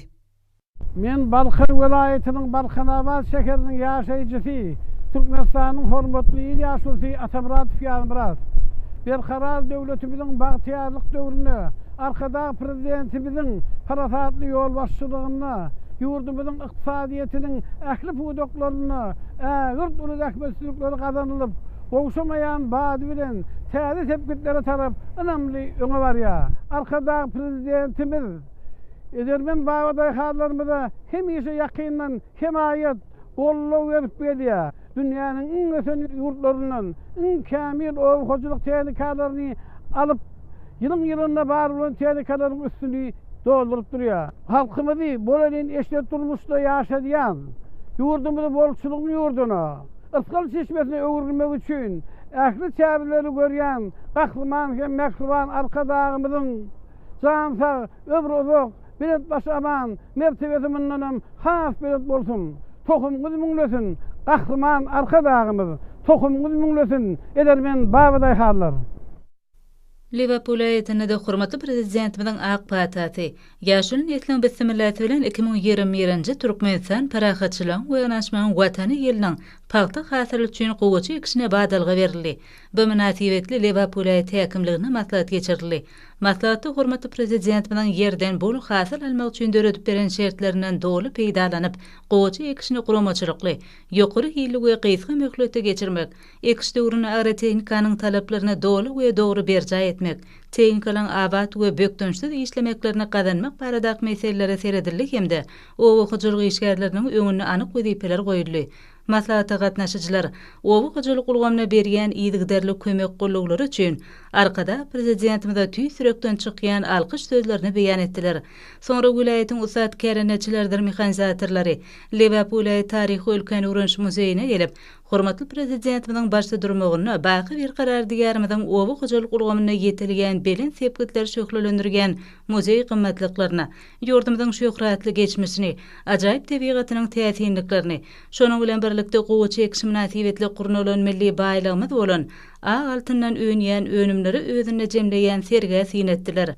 S1: Men
S3: Balkan welaýatynyň Balkanabat şäheriniň ýaşaýjysy, Türkmenistanyň hormatly il ýaşulusy Atamyradow Ýazmyrat. Berkarar döwletimiziň bagtyýarlyk döwründe Arkadag Prezidentimiziň parasatly ýolbaşçylygynda ýurdumyzyň ykdysadyýetiniň ähli pudaklarynda ägirt uly zähmetsizlikler gazanylyp, gowşamaýan bady bilen täze sepgitlere tarap ynamly öňe barýar. Arkadag Prezidentimiz edermen babadaýhanlarymyza hemişe ýakyndan hemaýat, goldaw berip gelýär. dünýäniň iň ösen ýurtlaryndan iň kämil oba hojalyk tehnikalaryny alyp, ýylyň-ýylyna bar bolan tehnikalaryň üstüni dolduryp durýar. Halkymyzy bolelin eşret durmuşda ýaşadýan, ýurdumyzy bolçulygyň ýurduna, rysgal çeşmesine öwürmek üçin ähli çäreleri görýän Gahryman hem mähriban Arkadagymyzyň jan sag, ömri uzak, Belet başy aman, mertebesi mundanam has belet bolsun! Tohumyňyz müňlesin, Gahryman Arkadagymyz! Tohumyňyz müňlesin, edermen babadaýhanlar!
S8: Liwerpul aýatynda-da hormatly Prezidentimiziň ak patasy, ýaşuly nesliň bismillasy bilen iki müň ýigrimi birinji Türkmenistan parahatçylygyň we ynanyşmagyň Watany ýylynyň pagta hasyly üçin gowaça ekişine badalga berildi. Bu mynasybetli Liwerpul aýaty häkimliginde maslahat geçirildi. Maslahatda hormatly Prezidentimiziň ýerden bol hasyl almak üçin döredip beren şertlerinden doly peýdalanyp, gowaça ekişini guramaçylykly, ýokary hilli we gysga möhletde geçirmek, ekiş döwründe agrotehnikanyň talaplaryny doly we dogry berjaý etmek, tehnikalaryň abat we bökdençsiz işlemeklerini gazanmak baradaky meselelere seredildi hem-de oba hojalyk işgärleriniň öňünde anyk wezipeler goýuldy. Maslahata gatnaşyjylar oba hojalyk ulgamyna berýän yzygiderli kömek gollaglary üçin Arkadag Prezidentimize tüýs ýürekden çykýan alkyş sözlerini beýan etdiler. Soňra welaýatyň ussat kärendeçileridir mehanizatorlary Lebap welaýat taryhy-ülkäni öwreniş muzeýine gelip, hormatly Prezidentimiziň baştudurmagynda baky Berkarar Diýarymyzyň oba hojalyk ulgamynda ýetilýän belent sepgitleri şöhlelendirýän muzeý gymmatlyklaryna, Ýurdumyzyň şöhratly geçmişini, ajaýyp tebigatynyň täsinliklerini, şonuň bilen birlikde gowaça ekişi mynasybetli gurnalan milli baýlygymyz bolan ak altyndan önýän önümleri özünde jemleýän sergä syn etdiler.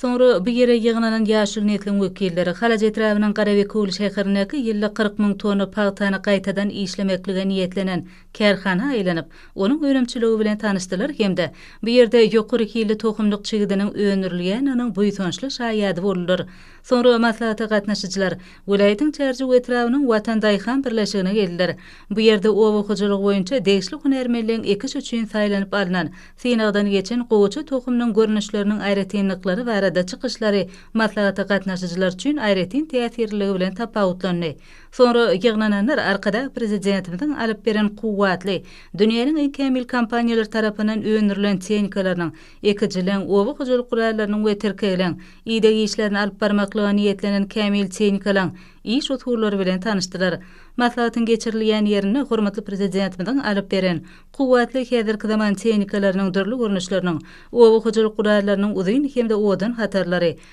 S8: Soňra bu ýere ýygnanan ýaşuly nesliň wekilleri Halaç etrabynyň Garabekewül şäherindäki ýylda kyrk müň tonna pagtany gaýtadan işlemeklige niýetlenen kärhana aýlanyp, onuň önümçiligi bilen tanyşdylar hem-de bu ýerde ýokary hilli tohumlyk çigidiniň öndürilýändiginiň buýsançly şaýady boldular. Soňra maslahata gatnaşyjylar welaýatyň Çärjew etrabynyň Watan daýhan birleşigine geldiler. Bu ýerde oba hojalygy boýunça degişli hünärmenligiň ekiş üçin saýlanyp alnan, synagdan geçen gowaça tohumynyň görnüşleriniň aýratynlyklary barada çykyşlary maslahata gatnaşyjylar üçin aýratyn täsirliligi bilen tapawutlandy. Soňra ýygnananlar Arkadag Prezidentimiziň alyp beren kuwwatly, dünýäniň iň kämil kompaniýalary tarapyndan öndürilen tehnikalarynyň, ekijiligiň, oba hojalyk gurallarynyň we tirkegleň, ideg işlerini alyp barmaklyga niýetlenen kämil tehnikalaň iş usullary bilen tanyşdylar. Maslahatyň geçirilýän ýerinde hormatly Prezidentimiziň alyp beren kuwwatly häzirki zaman tehnikalarynyň dürli görnüşleriniň, oba hojalyk gurallarynyň uzyn hem-de owadan hatarlary,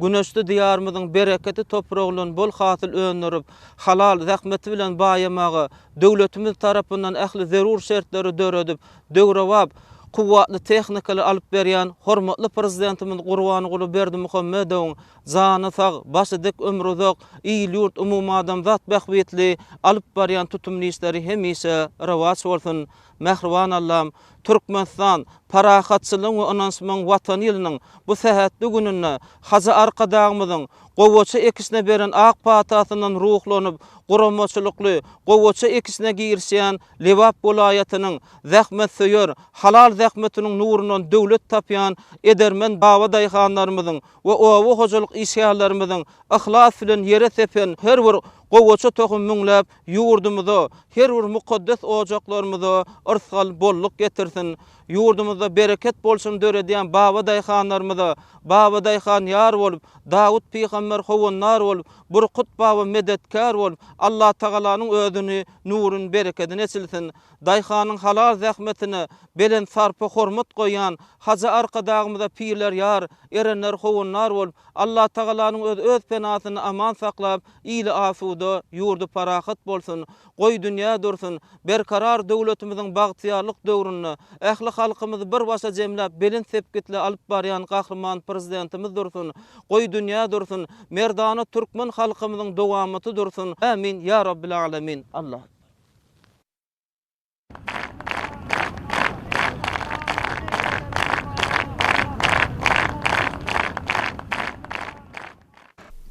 S7: Güneşli Diýarymyzyň bereketli topragyndan bol hasyl öndürip, halal zähmeti bilen baýamaga döwletimiz tarapyndan ähli zerur şertleri döredip, döwrebap, kuwwatly tehnikany alyp berýän hormatly Prezidentimiz Gurbanguly Berdimuhamedowyň jany sag, başy dik, ömri uzak, il-ýurt, umumadamzat bähbitli alyp barýan tutumly işleri hemişe rowaç bolsun! Mähriban Allam, Türkmenistan parahatçylygyň we ynanyşmagyň Watany ýylynyň bu sähetli gününde Hajy Arkadagymyzyň gowaça ekişine beren ak patasyndan ruhlanyp, guramaçylykly gowaça ekişine girişýän Lebap welaýatynyň zähmetsöýer, halal zähmetiniň nurundan döwlet tapýan edermen baba daýhanlarymyzyň we oba hojalyk işgärlerimiziň yhlas bilen ýere sepen her bir Gowaça tohum müňläp ýurdumyza, her bir mukaddes ojaklarymyza yrsgal, bolluk getirsin. Ýurdumyzda bereket bolçuny döredýän baba daýhanlarymyza Baba daýhan ýar bolup, Dawut pygamber howandar bolup, Burkut baba medetkär bolup, Allatagalanyň özüni, nuruny, berekedini eçilsin. Daýhanyň halal zähmetine belent sarpa-hormat goýýan Hajy Arkadagymyza pirler ýar, erenler howandar bolup, Allatagalanyň özi öz penasynda aman saklap, ili asuda, ýurdy parahat bolsun, goý dünýä dursun, Berkarar döwletimiziň bagtyýarlyk döwründe ähli halkymyzy bir başa jemläp belent sepgitli alyp barýan Gahryman Prezidentimiz dursun, goý dünýä dursun, merdana türkmen halkymyzyň dowamaty dursun! Ämin, ýa Rabbil Alamin! Allahu Ekber!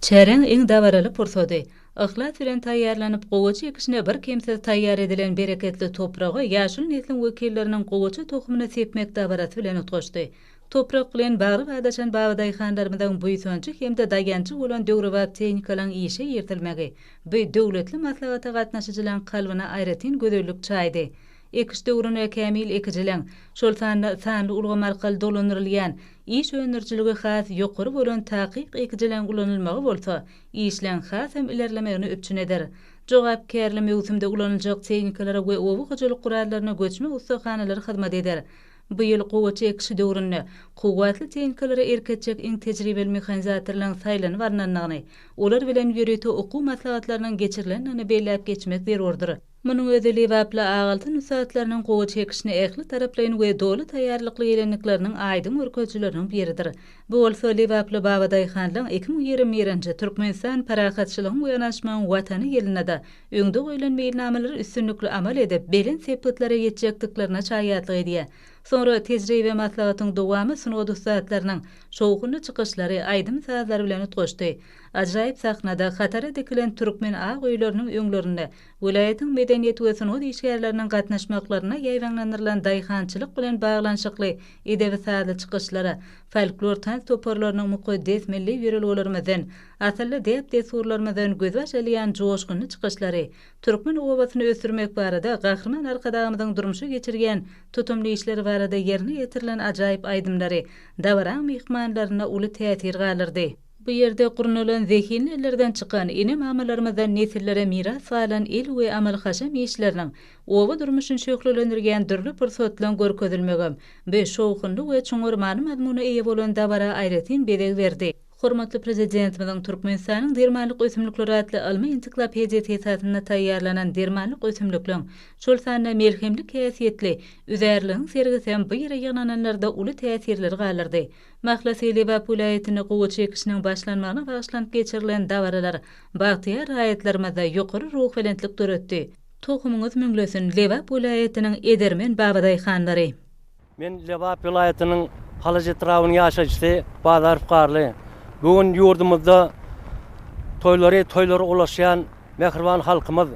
S8: Çäräň iň dabaraly pursady. Yhlas bilen taýýarlanyp, gowaça ekişine birkemsiz taýýar edilen bereketli topraga ýaşuly nesliň wekilleriniň gowaça tohumyny sepmek dabarasy bilen utgaşdy. Toprak bilen bagly badaşan babadaýhanlarymyzyň buýsanjy hem-de daýanjy bolan döwrebap tehnikalaryň işe iritilmegi bu döwletli maslahata gatnaşyjylaryň kalbyna aýratyn gözellik çaýdy. Ekiş döwrüne kämil ekijiligiň, şol sanda sanly ulgam arkaly dolandyrylýan, iş öndürijiligi has ýokary bolan takyk ekijiligiň ulanylmagy bolsa işleň hasam ilerlemegini üpjün eder. Jogapkärli möwsümde ulanyljak tehnikalara we oba hojalyk gurallaryna göçme ussahanalary hyzmat eder. Bu ýyl gowaça ekişi döwründe kuwwatly tehnikalara erk etjek iň tejribeli mehanizatorlaryň saýlanyp alnandygyny, olar bilen ýörite okuw maslahatlarynyň geçirilendigini belläp geçmek zerurdyr. Munuň özi lebaply Agaltyn ussatlarynyň gowaça ekişine ähli taraplaýyn we doly taýýarlykly gelendikleriniň aýdyň görkezijileriniň biridir. Bu bolsa lebaply babadaýhanlaryň ekin-u ýere meýrançy Türkmenistan parahatçylygyň we yanaşmagyň Watany ýylynda-da öňde goýlan meýilnamalary üstünlikli amal edip, belent sepgitlara ýetjekdiklerine şaýatlyk edýär. Soňra tejribe maslahatyň dowamy sungat ussatlarynyň şowhunly çykyşlary, aýdym-sazlary bilen utgaşdy. Ajaýyp sahnada hatara dikilen türkmen ak öýleriniň öňlerinde welaýatyň medeniýet we sungat işgärleriniň gatnaşmaklaryna ýaýbaňlandyrylan daýhançylyk bilen baglanyşykly edebi-sazly çykyşlara, folklor tans toparlarynyň mukaddes milli ýörelgelerimizden, asylly däp-dessurlarymyzdan gözbaş alýan joşgunly çykyşlary, türkmen obasyny ösdürmek barada Gahryman Arkadagymyzyň durmuşa geçirýän tutumly işleri barada ýerine ýetirilen ajaýyp aýdymlary dabaraň myhmanlarynda uly täsir galdyrdy. Bu ýerde gurnalan zehinli ellerden çykan, ene-mamalarymyzdan nesillere miras galan el we amal-haşam işleriniň oba durmuşyny şöhlelendirýän dürli pursatlaryň görkezilmegem bu şowhunly we çuňňur many-mazmuna eýe bolan dabara aýratyn bezeg berdi. Hormatly Prezidentimiziň Türkmenistanyň dermanlyk ösümlikleri atly ylmy ensiklopediýasy esasynda taýýarlanan dermanlyk ösümlikleň, şol sanda melhemlik häsiýetli üzärligiň sergisi hem bu ýere ýygnananlarda uly täsirleri galdyrdy. Mahlasy we Lebap welaýatynda gowaça ekişiniň başlanmagyna bagyşlanyp geçirilen dabaralar bagtyýar raýatlarymyzda ýokary ruhubelentlik döretdi. Tohumyňyz müňlesin, Lebap welaýatynyň edermen babadaýhanlary! Men
S9: Lebap welaýatynyň Halaç etrabynyň ýaşaýjysy Bazarow Garly. Bu gün ýurdumyzda toýlary toýlara ulaşýan mähriban halkymyz,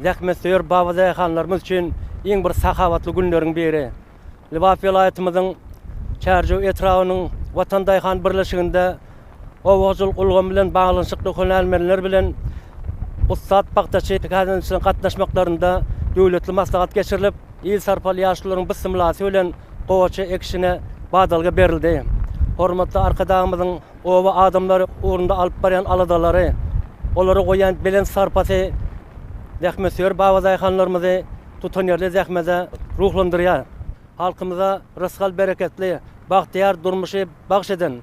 S9: zähmetsöýer baba daýhanlarymyz üçin iň bir sahawatly günleriň biri. Lebap welaýatymyzyň Çärjew etrabynyň Watan daýhan birleşiginde Oba hojalyk ulgamy bilen baglanyşykly hünärmenler bilen ussat pagtaçy tälimçileriň gatnaşmaklarynda döwletli maslahat geçirilip, il sarpaly ýaşlularyň bysymlasy bilen gowaça ekişine badalga berildi. Hormatly Arkadagymyzyň oba adamlary ugrunda alyp barýan aladalary, olara goýýan belent sarpasy zähmetsöýer babadaýhanlarymyzy tutanýerli zähmete ruhlandyrýar. Halkymyza rysgal-bereketli, bagtyýar durmuşy, bagş eden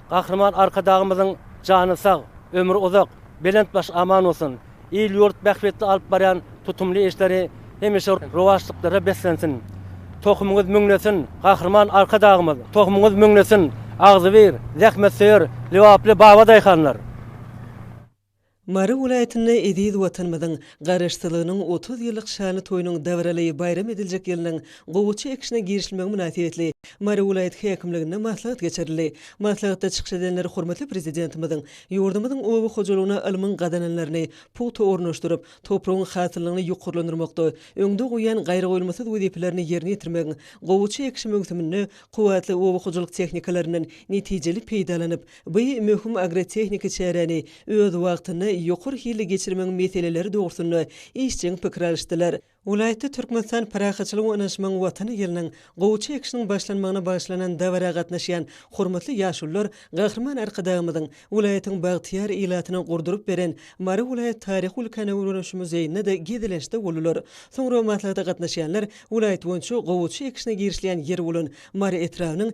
S9: Gahryman Arkadagymyzyň jany sag, ömri uzak, belent başy aman bolsun, il-ýurt bähbitli alyp barýan tutumly işleri hemişe rowaçlyklara beslensin! Tohumyňyz müňlesin, Gahryman Arkadagymyz! Tohumyňyz müňlesin, agzybir, zähmetsöýer, lebaply baba daýhanlar!
S1: Mary welaýatynda eziz Watanymyzyň Garaşsyzlygynyň otuz ýyllyk şanly toýunyň dabaraly baýram ediljek ýylynyň gowaça ekişine girişilmegi mynasybetli Mary welaýat häkimliginde maslahat geçirildi. Maslahatda çykyş edenler hormatly Prezidentimiziň ýurdumyzyň oba hojalygyna ylmyň gazananlaryny pugta ornaşdyryp, topragyň hasyllygyny ýokarlandyrmakda öňde goýýan gaýragoýulmasyz wezipelerini ýerine ýetirmegiň, gowaça ekişi möwsüminde kuwwatly oba hojalyk tehnikalaryndan netijeli peýdalanyp, Bu möhüm agrotehniki çäräni öz wagtynda ýokary hilli geçirmegiň meseleleri dogrusynda işjeň pikir alyşdylar. Welaýatda Türkmenistan parahatçylygyň ynanyşmagyň Watany ýylynyň gowuça ekişiniň başlanmagyna bagyşlanan dabara gatnaşýan hormatly ýaşulular Gahryman Arkadagymyzyň welaýatyň bagtyýar ilatyna gurduryp beren Mary welaýat taryhy-ülkäni öwreniş muzeýinde-de gezelençde boldular. Soňra maslahata gatnaşýanlar welaýat boýunça gowuça ekişine girişilýän ýeri bolan Mary etrabynyň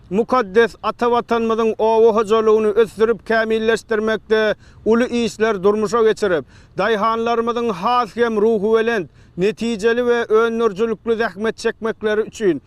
S5: Mukaddes ata Watanymyzyň oba hojalygyny ösdürip kämilleşdirmekde uly işler durmuşa geçirip, daýhanlarymyzyň has hem ruhubelent, netijeli we öndürijilikli zähmet çekmekleri üçin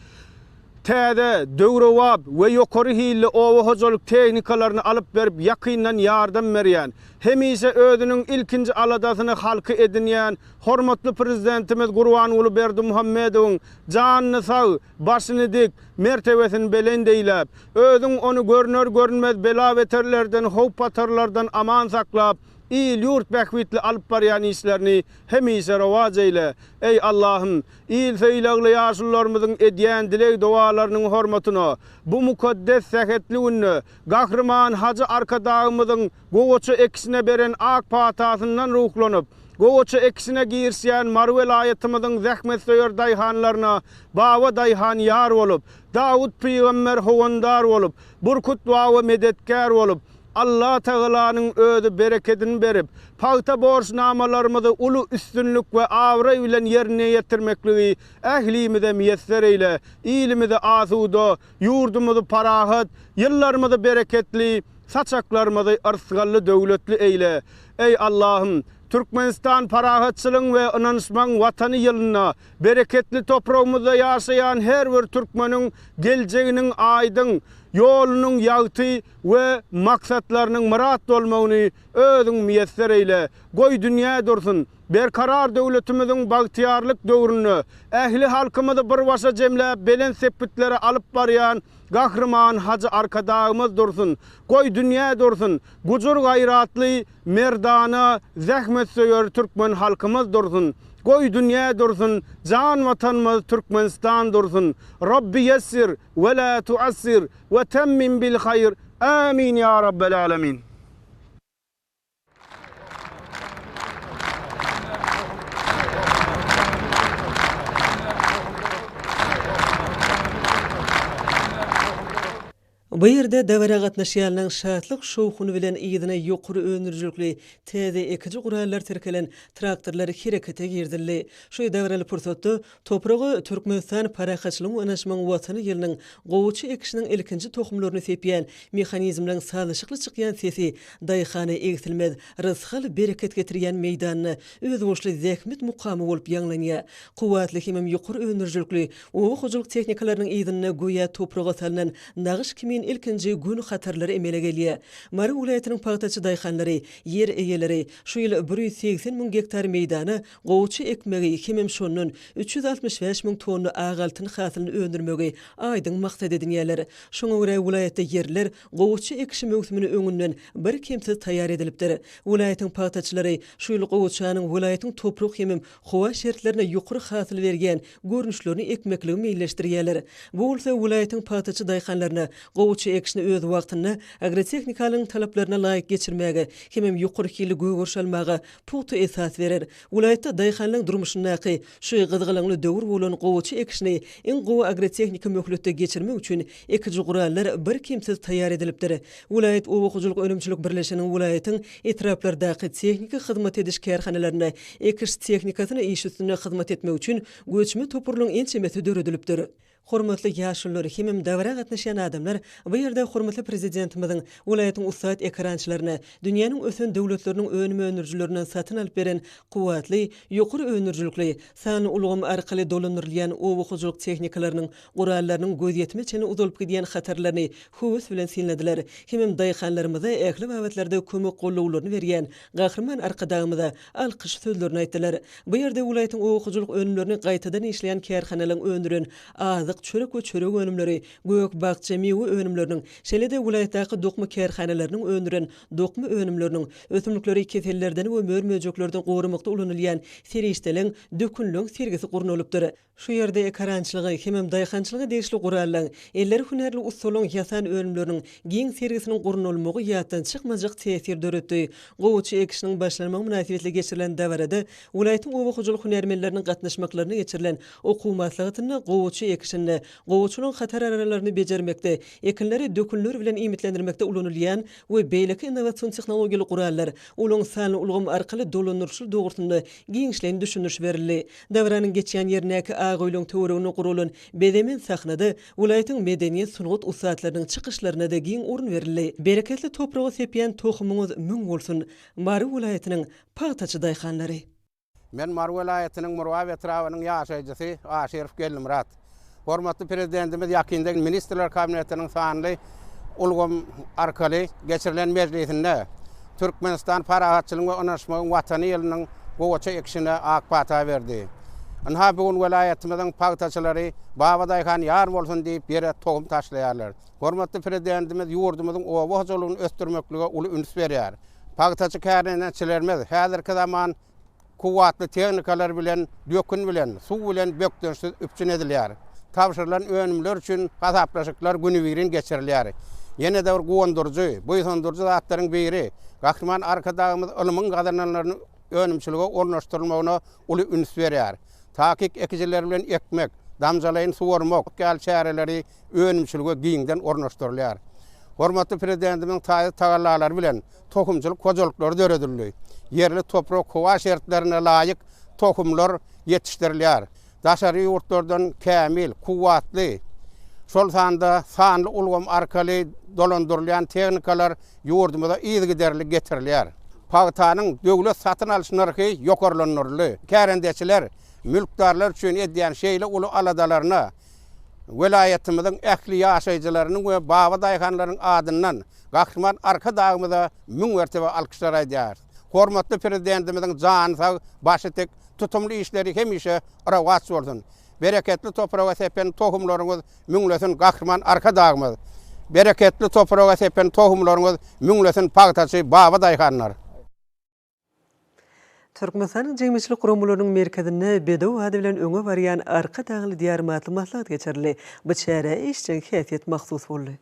S5: täze, döwrebap we ýokary hilli oba hojalyk tehnikalaryny alyp berip ýakyndan ýardam berýän, hemişe özüniň ilkinji aladasyny halky edinýän hormatly Prezidentimiz Gurbanguly Berdimuhamedowyň janyny sag, Başyny dik, mertebesini belent eýläp, özüň ony görner-görünmez bela-beterlerden, howp-hatarlardan aman saklap, il-ýurt bähbitli alyp barýan işlerini hemişe rowaç eýle. Eý, Allahym, il söýlagly ýaşulularymyzyň edýän dileg-dowalarynyň hormatyna, bu mukaddes sähetli günde Gahryman Hajy Arkadagymyzyň, Gowaça ekişine beren ak patasyndan ruhlanyp, gowaça ekişine girişýän Mary welaýatymyzyň zähmetsöýer daýhanlaryna Baba daýhan ýar bolup, Dawut pygamber howandar bolup, Burkut baba medetgär bolup, Allatagalanyň özi berekedini berip, pagta borçnamalarymyzy uly üstünlik we abraý bilen ýerine ýetirmekligi ählimize miýesser eýle, ilimizi asuda, Ýurdumyzy parahat, ýyllarymyzy bereketli, saçaklarymyzy yrsgally döwletli eýle. Eý, Allahym, Türkmenistan parahatçylygyň we ynanyşmagyň Watany ýylynda, bereketli topragymyzda ýaşaýan her bir türkmeniň geljeginiň aýdyň, ýolunyň ýagty we maksatlarynyň myrat bolmagyny Özüň miýesser eýle. Goý, dünýä dursun! Berkarar döwletimiziň bagtyýarlyk döwründe ähli halkymyzy bir başa jemläp belent sepgitlere alyp barýan Gahryman Hajy Arkadagymyz dursun, goý dünýä dursun, gujur-gaýratly, merdana, zähmetsöýer türkmen halkymyz dursun, goý dünýä dursun, jan Watanymyz Türkmenistan dursun! Rabbi ýessir we la tuassir we temmim bil haýr! Amin ýa rabbel alemin!
S1: Bu ýerde dabara gatnaşýanlaryň şatlyk-şowhuny bilen yzyna ýokary öndürijilikli täze ekiji gurallar tirkelen traktorlar herekete girizildi. Şu dabaraly pursatda Topraga Türkmenistan parahatçylygyň ynaşmagyň Watany ýylynyň gowaça ekişiniň ilkinji tohumlaryny sepýän mehanizmleriň sazlaşykly çykýan sesi daýhana egsilmez rysgal-bereket getirýän meýdanyna özboluşly zähmet mukamy bolup ýaňlanýar. Kuwwatly hemem ýokary öndürijilikli oba hojalyk tehnikalarynyň yzynda göýä topraga salnan nagyş kimin ilkinji Gün hatarlary emele gelýär. Mary welaýatynyň pagtaçy daýhanlary, ýer eýeleri şu ýyl bir ýüz segsen müň gektar meýdana Gowuçy ekmegi hemem şondan üç ýüz altmyş bäş müň tonna ak altyn hasylyny öndürmegi aýdyň maksat edinýärler. Şoňa görä welaýatda ýerler gowuçy ekişi möwsümine öňünden birkemsiz taýýar edilipdir. Welaýatyň pagtaçylary şu ýyl gowuçanyň welaýatyň toprak hemem howa şertlerine ýokary hasyl berýän görnüşlerini ekmekligi meýilleşdirýärler. Bu bolsa welaýatyň pagtaçy daýhanlaryna gowuçy ekişini öz wagtynda agrotehnikalygyň talaplaryna laýyk geçirmäge hemem ýokary hilli gögeriş almaga pugta esas berer. Welaýatda daýhanlaryň durmuşyndaky şu gyzgalaňly döwür bolan gowaça ekişini iň gowy agrotehniki möhletde geçirmek üçin ekiji gurallar birkemsiz taýýar edilipdir. Welaýat oba hojalyk önümçilik birleşiginiň welaýatyň etraplardaky tehniki hyzmat ediş kärhanalarynda ekiş tehnikasyny iş üstünde hyzmat etmek üçin göçme toparlaryň ençemesi döredilipdir. Hormatly ýaşulular hemem dabara gatnaşýan adamlar bu ýerde hormatly Prezidentimiziň welaýatyň ussat ekerançylaryna dünýäniň ösen döwletleriniň önüm öndürijilerinden satyn alyp beren kuwwatly, ýokary öndürijilikli, sanly ulgam arkaly dolandyrylýan oba hojalyk tehnikalarynyň, gurallarynyň gözýetime çenli uzalyp gidýän hatarlaryny höwes bilen synladylar hemem daýhanlarymyza ähli babatlarda kömek-gollawlaryny berýän Gahryman Arkadagymyza alkyş sözlerini aýtdylar. Bu ýerde welaýatyň oba hojalyk önümlerini gaýtadan işleýän kärhanalaryň öndüren azyk, çörek we çörek önümleri, gök-bakja, miwe önümleriniň, şeýle-de welaýatdaky dokma kärhanalarynyň öndüren dokma önümleriniň, ösümlikleri kesellerden we mör-möjeklerden goramakda ulanylýan serişdeleň, dökünleň sergisi gurnalypdyr. Şu ýerde ekerançylyga hemem daýhançylyga degişli gurallaň, elleri hünärli ussalaryň ýasan önümleriniň giň sergisiniň gurnalmagy ýatdan çykmajak täsir döretdi. Gowuçy ekişiniň başlanmagy mynasybetli geçirilen dabarada welaýatyň oba hojalyk hünärmenleriniň gatnaşmaklarynda geçirilen okuw maslahatynda gowuçy ekişinde, gowuçylygyň hatar araralaryny bejermekde, ekinleri dökünler bilen iýmitlendirmekde ulanylýan we beýleki innowasion tehnologiýaly gurallar, ulag sanly ulgam arkaly dolandyryşly dogrusynda giňişleýin düşündiriş berildi. Dabaranyň geçýän ýerindäki ak öýlüň töwereginde guralan bezemen sahnada welaýatyň medeniýet, sungat ussatlarynyň çykyşlaryna-da giň orun berildi. Bereketli topraga sepýän tohumyňyz müň bolsun, Mary welaýatynyň pagtaçy daýhanlary! Men Mary
S10: welaýatynyň Murgap etrabynyň ýaşaýjysy Aşyrow Gelnimyrat. Hormatly Prezidentimiz ýakynda Ministrler Kabinetiniň sanly ulgam arkaly geçirilen mejlisinde Türkmenistan parahatçylygyň we ynaşmagyň Watany ýylynyň gowaça ekişine ak pata berdi. Ynha, bu gün welaýatymyzyň pagtaçylary Baba daýhan ýar bolsun diýip, ýere tohum taşlaýarlar. Hormatly Prezidentimiz ýurdumyzyň oba hojalygyny ösdürmeklige uly üns berýär. Pagtaçy kärneneçilerimiz häzirki zaman. Kuwwatly tehnikalar bilen, dökün bilen, suw bilen bökdençsiz üpjün edilýär. Tabşyrylan önümler üçin hasaplaşyklar günübirin geçirilýär. Ýene-de bir guwandyryjy, buýsandyryjy zatlaryň biri, Gahryman Arkadagymyz ylmyň gazananlarynyň önümçilige ornaşdyrylmagyna uly üns berýär. Takyk ekijiler bilen ekmek, damjalaýyn suwarmak ýaly çäreleri önümçilige giňden ornaşdyrylýar. Hormatly Prezidentimiziň taýsyz tagallalary bilen tohumçylyk hojalyklary döredildi, ýerli toprak-howa şertlerine laýyk tohumlar ýetişdirilýär. Daşary ýurtlardan kämil, kuwwatly, şol sanda sanly ulgam arkaly dolandyrylýan tehnikalar ýurdumyza yzygiderli getirilýär. Pagtanyň döwlet satyn alyş nyrhy ýokarlandyryldy. Kärendeçiler mülkdarlar üçin edýän şeýle uly aladalaryna welaýatymyzyň ähli ýaşaýjylarynyň we babadaýhanlaryň adyndan Gahryman Arkadagymyza müň mertebe alkyşlar aýdýarys. Hormatly Prezidentimiziň jany sag, başy tik, tutumly işleri hemişe rowaç bolsun! Bereketli topraga sepen tohumlaryňyz müňlesin, Gahryman Arkadagymyz! Bereketli topraga sepen tohumlaryňyz müňlesin, pagtaçy babadaýhanlar!
S1: Türkmenistanyň jemgyýetçilik guramalarynyň merkezinde Bedew ady bilen öňe barýan Arkadagly Diýarym atly maslahat geçirildi. Bu çärä işjeň häsiýet mahsus boldy.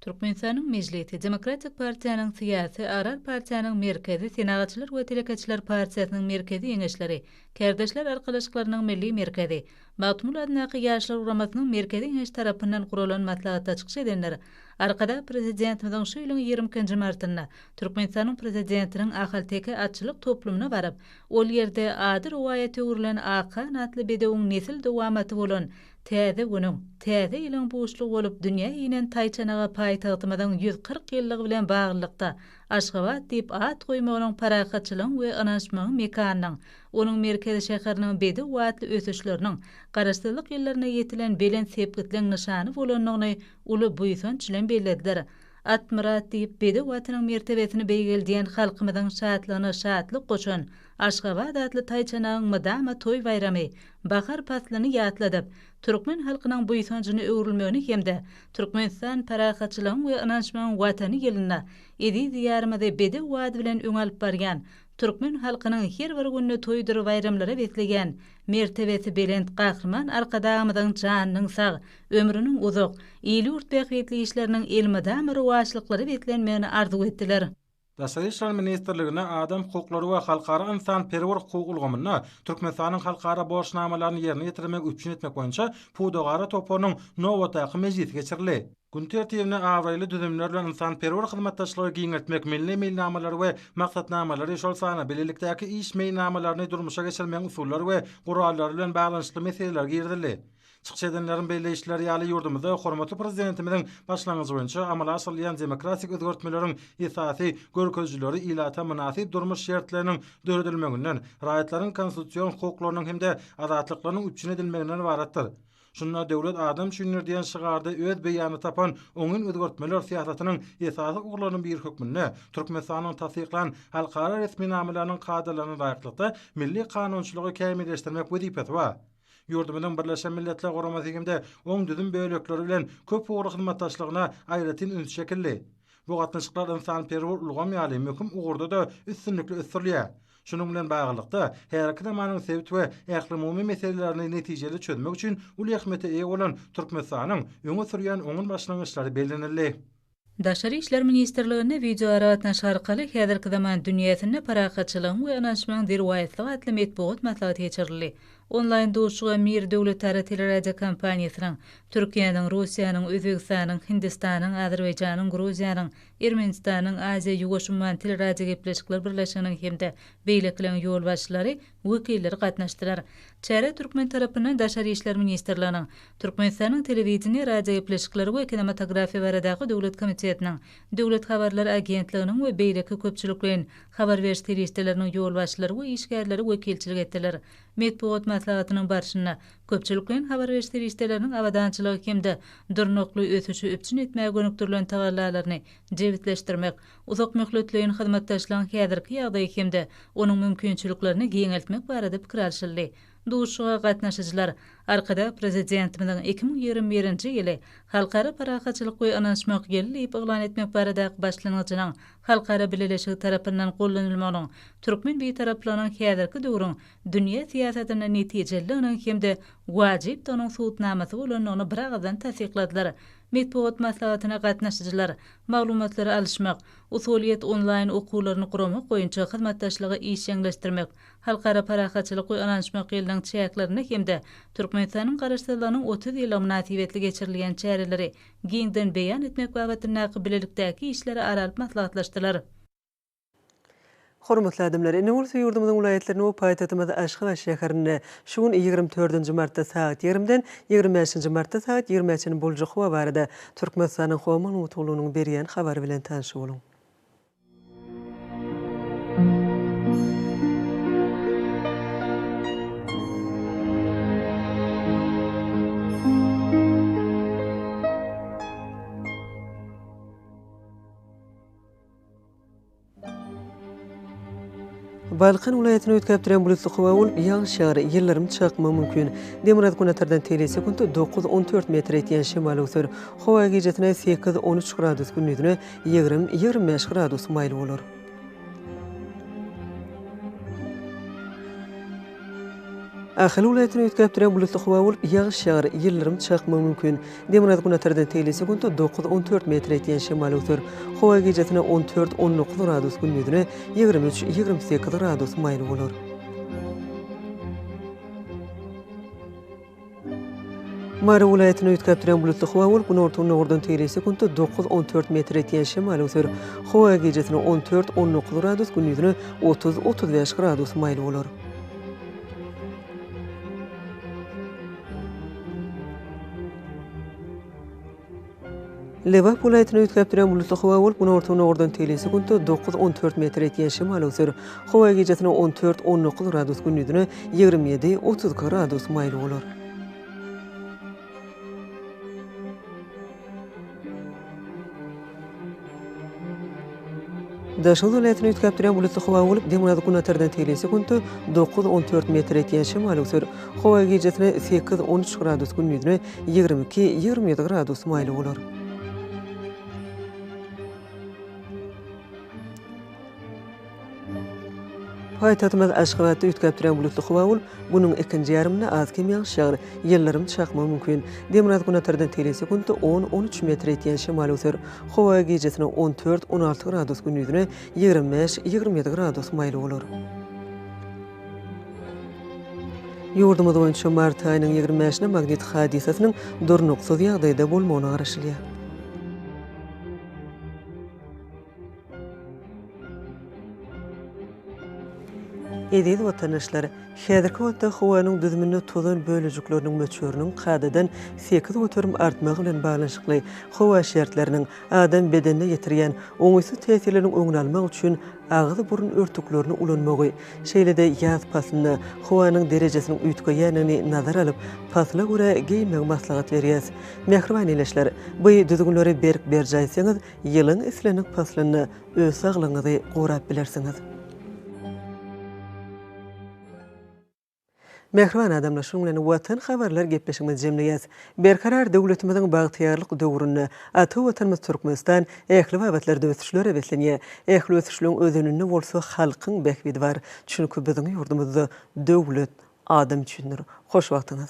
S1: Türkmenistanyň
S8: Mejlisi, Demokratik partiýanyň Syýasy, Agrar partiýanyň Merkezi, Senagatçylar we telekeçiler partiýasynyň Merkezi Geňeşleri, Kärdeşler arkalaşyklarynyň Milli Merkezi, Magtymguly adyndaky Ýaşlar guramasynyň Merkezi Geňeşi tarapyndan guralan maslahatda çykyş edenler Arkadag Prezidentimiziň şu ýylyň ýigrimi ikinji martynda Türkmenistanyň Prezidentiniň ahalteke atçylyk toplumyna baryp, ol ýerde ady rowaýata öwrülen Akhan atly bedewiň nesil dowamaty bolan Täze günüň, täze ýylyň buşlugy bolup dünýä inen taýçanaga paýtagtymyzyň ýüz kyrk ýyllygy bilen baglylykda Aşgabat diýip at goýmagynyň parahatçylygyň we ynanyşmagyň mekanynyň Onuň merkez şäheriniň bedew atly ösüşleriniň Garaşsyzlyk ýyllarynda ýetilen belent sepgitleň nyşany bolandygyny uly buýsanç bilen bellediler. At myrat diýip, bedew atynyň mertebesini beýgeldýän halkymyzyň şatlygyna şatlyk goşan Aşgabat atly taýçanagyň mydama toý baýramy, bahar paslyny ýatladyp, türkmen halkynyň buýsanjyna öwrülmegini hem-de Türkmenistan parahatçylygyň we ynanyşmagyň Watany ýylynda eziz Diýarymyzy bedew at bilen öňe alyp barýan Türkmen halkynyň her bir gününi toýdur baýramlara besleýän mertebesi belent Gahryman Arkadagymyzyň janynyň sag, ömrüniň uzak, il-ýurt bähbitli işleriniň elmydama rowaçlyklara beslenmegini arzuw etdiler. Daşary işler
S4: ministrligine adam hukuklary we halkara ynsanperwer hukuk ulgamynda Türkmenistanyň halkara borçnamalaryny ýerine ýetirmegi üpjün etmek boýunça pudagara toparynyň nobatdaky mejlisi geçirildi. Gün tertibine abraýly düzümler bilen ynsanperwer hyzmatdaşlygy giňeltmek milli meýilnamalary we maksatnamalary, şol sanda bilelikdäki iş meýilnamalaryny durmuşa geçirmegiň usullary we gurallary bilen baglanyşykly meseleler girizildi. Çykyş edenleriň belleýişleri ýaly, ýurdumyzda hormatly Prezidentimiziň başlangyjy boýunça amala aşyrylýan demokratik özgertmeleriň esasy görkezijileri ilata mynasyp durmuş şertleriniň döredilmeginden, raýatlaryň konstitusion hukuklarynyň hem-de azatlyklarynyň üpjün edilmeginden ybaratdyr. Şunda Döwlet adam üçindir diýen şygarda öz beýanyny tapan oňyn özgertmeler syýasatynyň esasy ugurlarynyň biri hökmünde Türkmenistanyň tassyklan halkara resminamalarynyň kadalaryna laýyklykda milli kanunçylygy kämilleşdirmek wezipesi bar. Ýurdumyzyň Birleşen Milletler Guramasy hem-de oň düzüm bölekleri bilen köp ugurly hyzmatdaşlygyna aýratyn üns çekildi. Bu gatnaşyklar ynsanperwer ulgam ýaly möhüm ugurda-da üstünlikli ösdürilýär. Şunuň bilen baglylykda, häzirki zamanyň sebit we ählumumy meselelerini netijeli çözmek üçin uly ähmiýete eýe bolan Türkmenistanyň öňe sürýän oňyn başlangyçlary bellenildi. Daşary işler
S8: ministrliginde wideoaragatnaşyk arkaly Häzirki zaman dünýäsinde parahatçylygyň we ynanyşmagyň derwaýyslygy atly metbugat maslahaty geçirildi. Onlaýn duşuşyga Mir döwletara teleradiokompaniýasynyň, Türkiýäniň, Russiýanyň, Özbegistanyň, Hindistanyň, Azerbaýjanyň, Gruziýanyň, Ermenistanyň Aziýa-Ýuwaş-Umman teleradiogepleşikler birleşiginiň hem-de beýlekileriň ýolbaşçylary, wekilleri gatnaşdylar. Çärä türkmen tarapyndan Daşary işler ministrliginiň, Türkmenistanyň Telewideniýe, radiogepleşikler we kinematografiýa baradaky döwlet komitetiniň, Döwlet habarlar agentliginiň we beýleki köpçülikleýin habar beriş serişdeleriniň ýolbaşçylary we işgärleri wekilçilik etdiler. Metbugat maslahatynyň barşynda Köpçülikleýin habar beriş serişdeleriniň abadançylygy hem-de durnukly ösüşi üpjün etmäge gönükdirilen tagallalaryny jebisleşdirmek, uzakmöhletleýin hyzmatdaşlygyň häzirki ýagdaýy hem-de onuň mümkinçiliklerini giňeltmek barada pikir alşyldy. Duşuşyga gatnaşyjylar Arkadag Prezidentimiziň iki müň ýigrimi birinji ýyly Halkara parahatçylyk we ynanyşmak ýyly diýip yglan etmek baradaky başlangyjynyň halkara bileleşigi tarapyndan gollanylmagynyň türkmen Bitaraplygynyň häzirki döwrüň dünýä syýasatyna netijelidiginiň hem-de wajypdygynyň subutnamasy bolandygyny biragyzdan tassykladylar. Metbugat maslahatyna gatnaşyjylar maglumatlary alyşmak, usulyýet onlaýn okuwlaryny guramak boýunça hyzmatdaşlygy işjeňleşdirmek, Halkara parahatçylyk we ynanyşmak ýylynyň çäklerinde hem-de Türkmenistanyň Garaşsyzlygynyň otuz ýyllygy mynasybetli geçirilýän çäreleri giňden beýan etmek babatyndaky bilelikdäki işleri ara alyp maslahatlaşdylar.
S1: Hormatly adamlar! Ene gursa ýurdumyzyň welaýatlarynda we paýtagtymyz Aşgabat şäherinde şu gün ýigrimi dördünji martda sagat ýigrimden ýigrimi bäşinji martda sagat ýigrimä çenli boljak howa barada Türkmenistanyň Howa Maglumatgullugynyň berýän habary bilen tanyş boluň. Balkan welaýatyny üýtgäp duran bulutly howa bolup, ýagyş ýagar, ýyldyrym çakmagy mümkin. Demirgazyk-günbatardan tele sekunt dokuz-on dört metr etýän şemal öwser. Howa gijesine sekiz-on üç gradus, gündizine ýigrimi-ýigrimi bäş gradus maýyl bolar. Ahal welaýatyny üýtgäp duran bulutly howa bolup, ýagyş ýagar, ýyldyrym çakmagy mümkin. Demirgazyk-günbatardan tegelek sekuntda dokuz-on dört metre ýetýän şemal öwser. Howa gijesine on dört-on dokuz gradus, gündizine ýigrimi üç-ýigrimi sekiz gradus maýyl bolar. Mary welaýatyny üýtgäp duran bulutly howa bolup, günorta-gündogardan teýelejä sekuntda dokuz-on dört metr etýän şemal öwser. Howa gijesine on dört-on dokuz gradus, gündiziňe otuz-otuz bäş gradus maýyl bolar. Lebap welaýatyny üýtgäp duran bulutly howa bolup, günorta-günordan tegelýän sekunta dokuz, on dört metr etýän şemal öwser. Howa gijasine on dört, on dokuz gradus, gündizine ýigrimi ýedi, otuz iki gradus maýyl bolar. Daşoguz welaýatyny üýtgäp durýan bulutly howa bolup, demirgazyk-günbatardan tigli sekuntda dokuz-on dört metr etýän şemal öwser. Howa gijesi sekiz-on üç gradus, gündizine ýigrimi iki-ýigrimi ýedi gradus maýly bolar. Paýtagtymyz Aşgabatda üýtgäpdürýän bulutly howa bolup, günüň ikinji ýarymynda az kem ýagyş ýagar, ýyldyrym çakmagy mümkin. Demirgazgünatardan tele sekuntda on-on üç metr ýetýän şemal öser. Howa gijesine on dört-on alty gradus, gündizine ýigrimi bäş-ýigrimi ýedi gradus maýyl bolar. Ýurdumyz boýunça mart aýynyň ýigrimi bäşine magnit hadysasynyň durnuksyz ýagdaýda bolmagyna garaşylýar. Eziz watandaşlar! Häzirki wagtda howanyň düzüminde tozan bölejikleriniň möçberiniň kadadan sekiz göterim artmagy bilen baglanyşykly howa şertleriniň adam bedenine ýetirýän oňaýsyz täsirleriniň öňüni almak üçin agyz-burun örtüklerini ulanmagy, şeýle-de ýaz paslynda howanyň derejesiniň üýtgeýändigini nazara alyp, pasla görä geýinmegi maslahat berýäs. Mähriban ildeşler! Bu düzgünleri berk berjaý etseňiz, Ýylyň islendik paslynda öz saglygyňyzy gorap bilersiňiz. Mähriban adamlar, şunuň bilen Watan habarlar gepleşigimizi jemleýäs. Berkarar döwletimiziň bagtyýarlyk döwründe ata Watanymyz Türkmenistan ähli babatlarda ösüşlere beslenýär. Ähli ösüşligiň özeninde bolsa halkyň bähbidi bar. Çünki biziň ýurdumyzda döwlet adam üçindir. Hoş wagtyňyz!